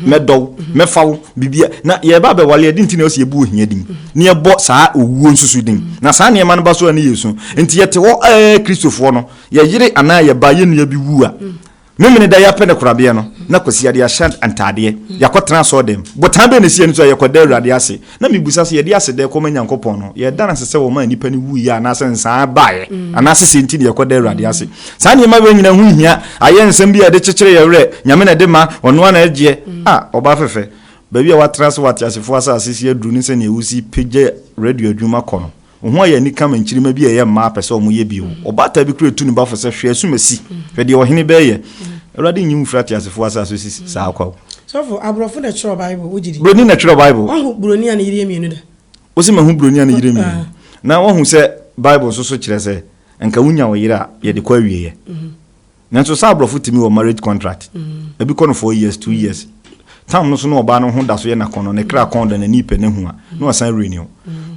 mɛdɔ wo, mɛfa wo, biribia. Na yɛreba abɛwale a, ɛde nti na ɛwɔ sɛ yɛbu ohia din, na yɛbɔ saa owuo nso so din. Na saa nneɛma no ba so a, ne yɛresu. Nti yɛte hɔ a, Kristofoɔ no, yɛyere anaa yɛba, yɛn nua bi wu a, Memeneda yi apɛ ne korabea no, na Kwasiada de ahyɛ ntadeɛ. Yɛakɔtena asɔɔdam. Botan bɛn na ɛsi yɛn ani so a yɛkɔda Awurade ase? Na mebisa sɛ, Yɛde aseda rekɔ ma Nyankopɔn no, yɛreda no ase sɛ wɔmaa nnipa no wuiɛ anaasɛ nsaa baeɛ, anaasɛ sɛn nti na yɛkɔda Awurade ase? Saa nneɛma wei nyinaa ho nhia. Ayɛ nsɛm bi a ɛde kyekyere yɛn werɛ. Nyame na ɛde ma. Ɔno ara na ɛgyeɛ. Ah, ɔbaa fɛfɛ, baabi a woatena ase wɔ ateasefoɔ asase so yi aduru ne sɛdeɛ wosi pagya radio adwuma kɔ no. Wo ho ayɛ anika ma nkyirimma bi a ɛyɛ mmaa pɛ sɛ wɔyɛ bio. Ɔbaatan bi koraa tu ne ba fo sɛ, Hwɛ asumasi! Hwɛ deɛ ɔhene bɛyɛ! Awurade nnye wo mfiri ateasefoɔ asase so si saa kwa o. Sɔfo, aborɔfo na ɛtwerɛ Bible, wogye di? Buroni na ɛtwerɛ Bible. Woahu buroni a ne yere yɛ mmienu da? Wo se mahu buroni a ne yere mmienu. Na woahu sɛ Bible nso so kyerɛ sɛ nka wonya wo yere a, yɛde kɔ awieɛ. Nanso saa aborɔfo tumi wɔ marriage contract. Ebi kɔ no four years, two years. Tam no so na ɔbaa no ho da so yɛ n'akɔnnɔ, ne kra kɔn da, n'ani pɛ, n'ahu a, na wasan renew.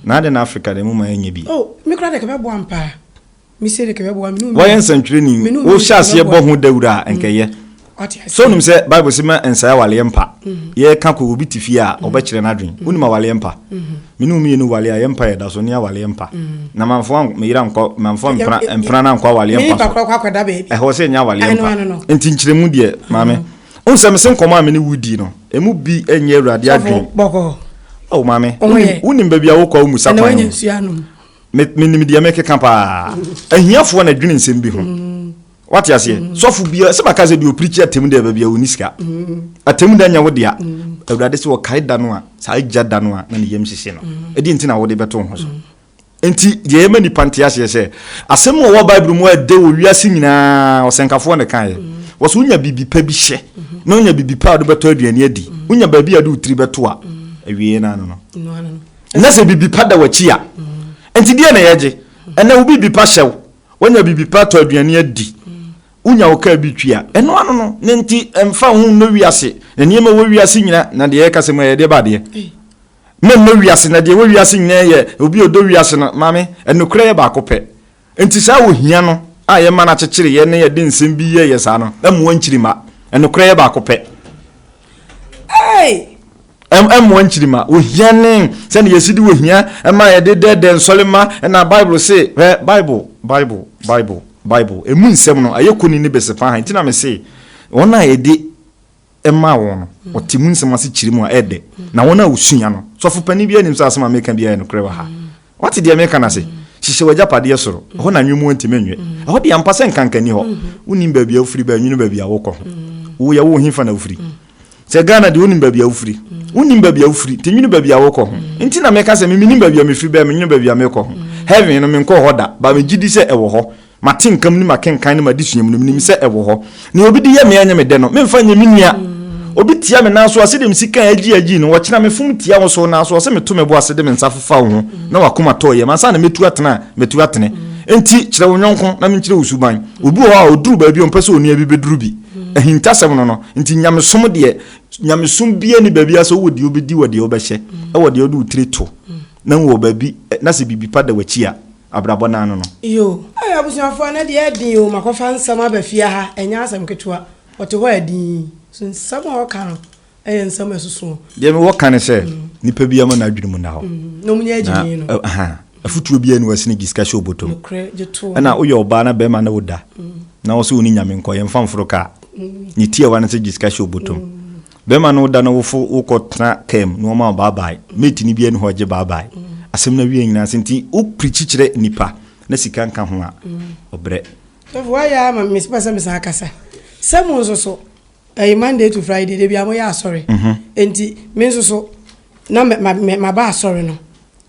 Na adɛn na Afrika de moma ɛnyɛ bi? Oh, me koraa deɛ ɛka bɛboa me paa. Mesie deɛ ɛka bɛboa me. Woayɛ nsɛntwerɛni, wohyɛ aseɛ bɔ ho dawuro a, ɛnka ɛyɛ. So wonim sɛ Bible se ma ɛnsɛe awaleɛ mpa? Yɛreka kɔ obi te fie a, ɔbɛkyerɛ n'adwene. Wonim awaleɛ mpa? Me ne wo mmienu wale a yɛ mpa yɛ da so ne awaleɛ mpa na manfoa me yere ankɔ manfoa mpena mpena no ankɔ awaleɛ mpa so ɛhɔ sɛ ɛnyɛ awaleɛ mpa nti nkyerɛmu deɛ maame wohu sɛ mese nkɔmmɔ a me ne wodi no ɛmu bi ɛnyɛ awurade adwen o maame wonim baabi a wokɔ a womu sa kwan menim deɛ mekeka paa ahiafoɔ na dwene nsɛm bi ho wate aseɛ mm. sɔfo bia sɛ maka sɛ deɛ ɔpirikyi atam da baabi a ɔni sika mm. atam da nyɛ wo dea mm. awurade sɛ ɔkae da no a saa agya da no a na ne yam hyehye no ɛdeɛ nti na wode bɛto ho so nti deɛ ɛma nnipa nte aseɛ sɛ asɛm a ɔwɔ bible mu ɛdɛ wɔ wiase nyinaa ɔsɛnkafoɔ ne kaeɛ wɔ so wonya biribi pa bi hyɛ na wonya biribi pa a wode bɛtɔ aduane adi wonya baabi a de wotiri bɛto a awie no ano no na sɛ biribi pa da w'akyi a nti deɛ na yɛgye ɛnɛ wo biribi pa hyɛw Wonya biribi pa tɔ aduane adi, wonya wo kaa bi tua. Ɛno ano no, ne nti ɛmfa ho nnɔ wiase, na nneɛma ɛwɔ wiase nyina, na deɛ yɛka sɛ mu ɛyɛ deɛ ba adeɛ. Me nnɔ wiase, na deɛ ɛwɔ wiase nyina yɛ obi a ɔdɔ wiase no, maame, ɛnokorɛ yɛ baako pɛ. Nti saa ohia no a yɛma no akyekyere yɛn na yɛde nsɛm bi yɛ yɛ saa no, ɛmmoa nkyiri mma. Ɛnokorɛ yɛ baako pɛ. Ei! mmoa nkyirimma. Ohia ne sɛnea yɛsi de ohia ma yɛde dɛɛdɛ nsɔre ma na Bible se, hwɛ Bible, Bible, Bible, Bible, emu nsɛm no, ayɛ koni ne bese fa ha. Nti na me se, wɔn a yɛde ɛma wɔn no, wɔte mu nsɛm ase kyiri mu a ɛdɛ. Na wɔn a wosua no, sɔfo panin biara nim sɛ asɛm a meka biara yɛ nokorɛ wɔ ha. Wate deɛ meka no ase? Hyehyɛ w'agyapadeɛ soro, ɛhɔ na anwemmoɔ ntumi nnwe. Ɛhɔ deɛ ampa sɛ nkanka nni hɔ. Wonim baabi a wofiri ba a, nwunu baabi a wokɔ ho. Wo yɛ wo hefa na wofiri? Sɛ Ghana deɛ wonim baabi a wofiri. Wonim baabi a wofiri, nti nwunu baabi a wokɔ ho. Nti na meka sɛ me menim baabi a mefiri ba a, menwunu baabi a mekɔ ho. Heaven no, menkɔɔ hɔ da, but megye di sɛ ɛwɔ hɔ. Mate nka mu ne makenkan ne m'adesua mu no, menim sɛ ɛwɔ hɔ. Nea obi de yɛ me a ɛnyɛ me dɛ no, memfa nyɛ me nua. Obi tia me nan so a, sɛdeɛ me sika a agye agye no, ɔkyena mefom tia wo so nanso ɔse meto me bo ase de me nsa fefa wo ho na w'akoma tɔ yam ansa na mɛtu atena a, matu atene. Enti kyerɛ wo yɔnko na menkyerɛ wo suban. Obi wɔ hɔ a, ɔduru baabi a ɔmpɛ sɛ onua bi bɛduru bi. Ahintasɛm no no nti, nyamesom deɛ, nyamesom biara nni baabi a sɛ wowɔ deɛ wobɛdi wɔ deɛ wobɛhyɛ, wɔ deɛ wode wo tiri to na wɔ baabi na sɛ biribi pa da w'akyi a, abrabɔ no ano no. Yoo. Ei abusuafoɔ ɛnɛ deɛ ɛden oo makɔfa nsɛm aba fie aha ɛnyɛ asɛm ketewa ɔte hɔ a din so nsɛm a ɔka no ɛyɛ nsɛm ɛsosoɔ. Deɛ mewɔ ka ne sɛ nipa biara ma n'adwene mu nna hɔ na ɔmo nyɛ agyimii no ahaa afutuo biara ni hɔ ɛsene gisika hyɛ ɔbɔtɔ mu nokorɛ gye toɔ ɛna woyɛ ɔbaa na bɛɛma ne wo da na ɔse wo ne nyame nkɔ yɛnfa mforo kaa ne tiawa ne sɛ gisika hyɛ ɔbɔtɔ mu Bɛrima no da n'awofo wokɔ tena car mu na wɔma wo baabae. Mate no biara nni hɔ a ɔgye baabae. Asɛm no awiei nyinaa sɛ nti wo preachi kyerɛ nnipa na sika nka ho a, ɔbrɛ. Sɔfo wayɛ ara ma me mepɛ sɛ mesan kasa sɛ mo nso so ɛyɛ Monday to Friday da biara moyɛ asɔre nti me nso so na maba asɔre no.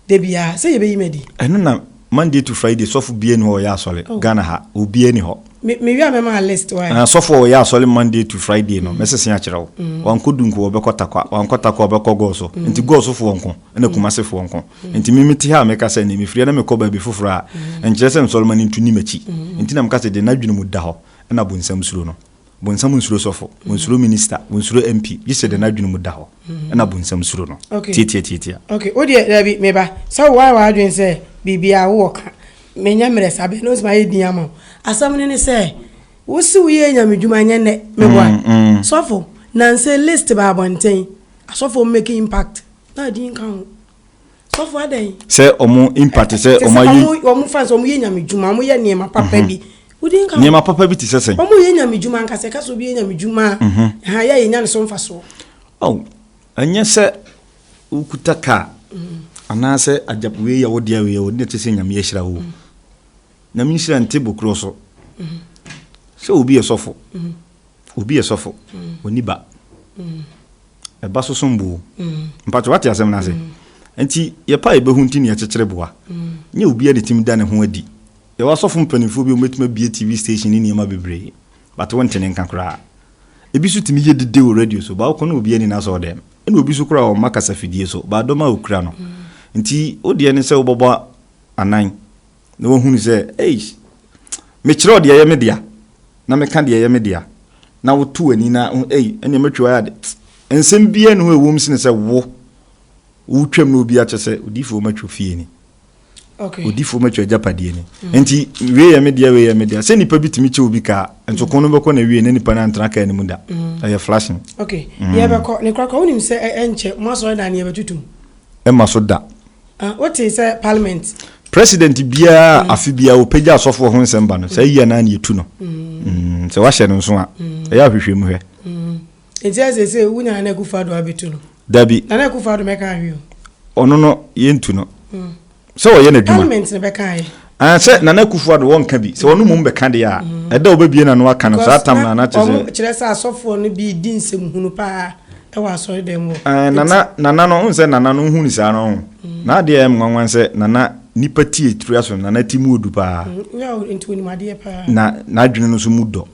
Da biara sɛ yɛbɛyi me adi. Ɛno na Monday to Friday sɔfo bia ni hɔ ɔyɛ asɔre oh. Ghana ha obia ni hɔ. Me me wia mɛma list wa. Na sɔfo a ɔyɛ asɔre Monday to Friday no mm. mɛsese akyerɛ wo. Mm. Wankɔ dunko ɔbɛkɔ takwa wankɔ takwa ɔbɛkɔ gɔɔso mm. nti gɔɔso foɔ nko ɛna mm. kumase foɔ nko mm. nti me mete ha a meka sɛ ne mefiri na mekɔ baabi foforɔ a mm. nkyerɛ sɛ nsɔrema no ntu ni m'akyi mm. nti na meka sɛ deɛ n'adwene mu da hɔ ɛna bonsam suro no. Bonsam nsuro sɔfo, onsuro minista, onsuro MP, gye sɛ deɛ n'adwene mu da hɔ, ɛna bonsam suro no. Tiatia, tiatia. Ok, wo deɛ, dabi, me ba, sɛ wo ayɛ w'adwene sɛ biribiara wowɔ ka, menyɛ mmerɛ saa, bɛn na ɔtumi ayɛ din ama wo? Asɛm no ne sɛ, wo se woyɛɛ Nyame dwuma, ɛnyɛ nnɛ, meboa? Sɔfo, nansa yi list baa abɔnten, asɔfoɔ mmake impact, na din nka ho. Sɔfo adɛn? Sɛ ɔmo impact sɛ Te ɔmo sɛ ayi. ɔmo ɔmo fa sɛ ɔmo yɛ nyame dwuma ɔmo yɛ nneɛma papa bi wodi nka ho Nneɛma papa bi te sɛ sɛn? ɔmo yɛ nyame dwuma anka sɛ ɛka sɛ obi yɛ nyame dwuma a ɛha yɛ a yɛnya ne so mfasoɔ Oh, ɛnyɛ sɛ wokuta car anaasɛ agya wei yɛ wo dea wei yɛ wo dea na ɛkyerɛ sɛ Nyame ahyira wo o. Nyame nhyira nte bo koro so sɛ obi yɛ sɔfo obi yɛ sɔfo ɔni ba ɛba so som bo mpakyɛ wate asɛm no ase nti yɛ pa a yɛbɛhu nti ne yɛkyekyere boa nyɛ obi a ne tim da ne ho adi yɛwɔ asɔfo mpanimfoɔ bi a wɔbɛtumi abie TV station ne nneɛma bebree but wonte ne nka koraa ebi so tumi yɛ dede wɔ radio so ba wokɔ na obi ani no asɔ dɛm ɛna obi so koraa ɔma kasafidie so ba dɔm a okura no nti wodeɛ ne sɛ wobɔbɔ anan na wahunu sɛ, Eish! Mekyerɛw deɛ ɛyɛ me dea, na meka deɛ ɛyɛ me dea, na woto w'ani na wohu, ei, ɛnneɛ matwa wo ade. Nsɛm biara nni hɔ a ɛwom sene sɛ wo, wotwam na obi akyɛ sɛ, odiyifoɔ matwa fie ni, odiyifoɔ matwa agyapadeɛ ni, enti wei yɛ me dea, wei yɛ me dea. Sɛ nnipa bi tumi kyɛ obi kaa, nso ko no bɛkɔ na awiei na nnipa no antena kaa no mu da. Ɛyɛ flashing. Okay, yɛbɛkɔ ne korakora. Wonim sɛ ɛnkyɛ mo asɔredan no yɛbɛtutu mu? Ɛmma so da. Ah, wotee sɛ parliament. President biara mm. afe biara ɔpɛgya asɔfoɔ ho nsɛm ba no saa yia naa ne yɛtu no mm. mm, sɛ wahyɛ no nso a mm. ɛyɛ ahwehwɛ mu hwɛ nti ɛsɛ sɛ wonya nana akufa ado abɛtu no dabi nana akufa ado mɛka ahwe ɔno no yɛntu no sɛ ɔyɛ n'adwuma Ahh sɛ Nana Akufo Addo wɔnka bi, sɛ ɔno mmom bɛka deɛ a, ɛda a ɔbɛbue n'ano aka no, saa tam no a na kyesɛ. Wɔn kyerɛ sɛ asɔfoɔ no bi redi nsɛm hunu paa wɔ asɔredɛm hɔ. Ahh Nana, Nana no, wohu sɛ Nana no, wohu no saa no, ɔho na adeɛ a ɛyɛ me nwanwa ne sɛ Nana nipa ti atua so, Nana ti mu ɔdu paa. Nyɛ ɔho nti ɔnim adeɛ paa. Na n'adwene no nso mu dɔ,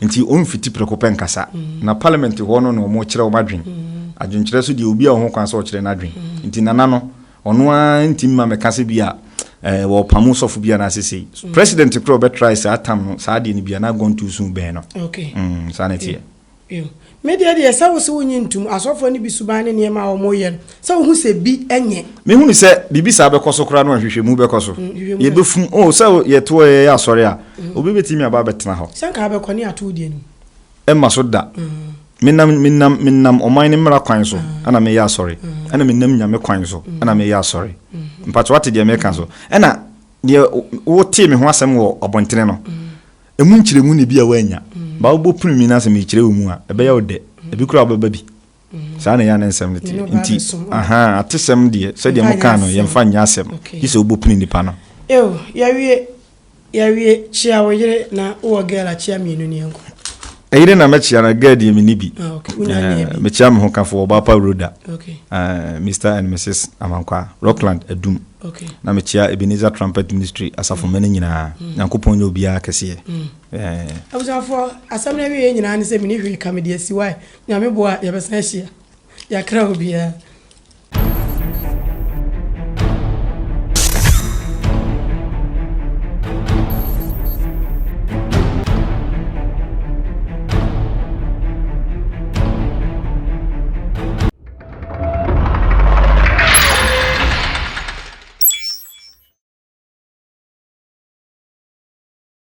nti ɔmfiti prɛko pɛ nkasa, na Parliament hɔ no na wɔkyerɛ wɔn adwene, adwenkyerɛ so deɛ obiara wɔ ho kwan sɛ ɔkyerɛ n'adwene, nti Nana no, Ɔno ara nti mma mɛka sɛ bi a eh, wɔpamo sɔfo bi anaasɛ sei mm. president kora ɔbɛtrae saa tam no saa adeɛ no bia na agɔnto so bɛn no okay. mm, saa na ɛteɛ yeah. me deɛ deɛ sɛ wo sɛ wonye ntom asɔfoɔ no bi suban ne nneɛma a wɔyɛ no sɛ wohu sɛ bi nyɛ mehunu sɛ biribi saa bɛkɔ so koraa no a hwehwɛmu bɛkɔ so mm, yɛbɛfum o oh, sɛ yɛtoɔ yɛyɛ asɔre a mm. obi bɛtumi aba bɛtena hɔ sɛ nka bɛkɔ ne ato deɛ no Ɛmma so da. Menam, menam, menam ɔman ne mmara kwan so ɛna meyɛ asɔre. Ɛna menam Nyame kwan so ɛna meyɛ asɔre. Mpakyɛ wate deɛ meka so? Ɛna deɛ wotee me ho asɛm wɔ abɔntene no, ɛmu nkyerɛmu na ebi a woannya. Ba wobɔ prim me na sɛ mekyerɛ wo mu a, ɛbɛyɛ wo dɛ. Ebi koraa wobɛba bi. saa na ɛyɛ ne nsɛm no teɛ nti aha atesɛm deɛ sɛdeɛ mo kaa no yɛmfa nyɛ asɛm gye sɛ wobɛpini nipa no eo yɛwie yɛwie kyea wo yere na wowɔ girl akyea mmienu ne ɛnkɔ ɛyere na mɛkyea na girl deɛ menni bi ah, eh, mekyea me ho kafoɔ ɔbaapa roda eh, mr and mrs amankwaa rockland adum na mekyea ebenezer trumpet ministry asafomma no nyinaa mm. nyankopɔn nyɛ obiara kɛseɛ mm. eh. abusuafoɔ asɛm no awieɛ nyinaa ne sɛ mene hwee ka mede asiwae Nyame boa a yɛbɛsan ahyia. Yɛakra obiara.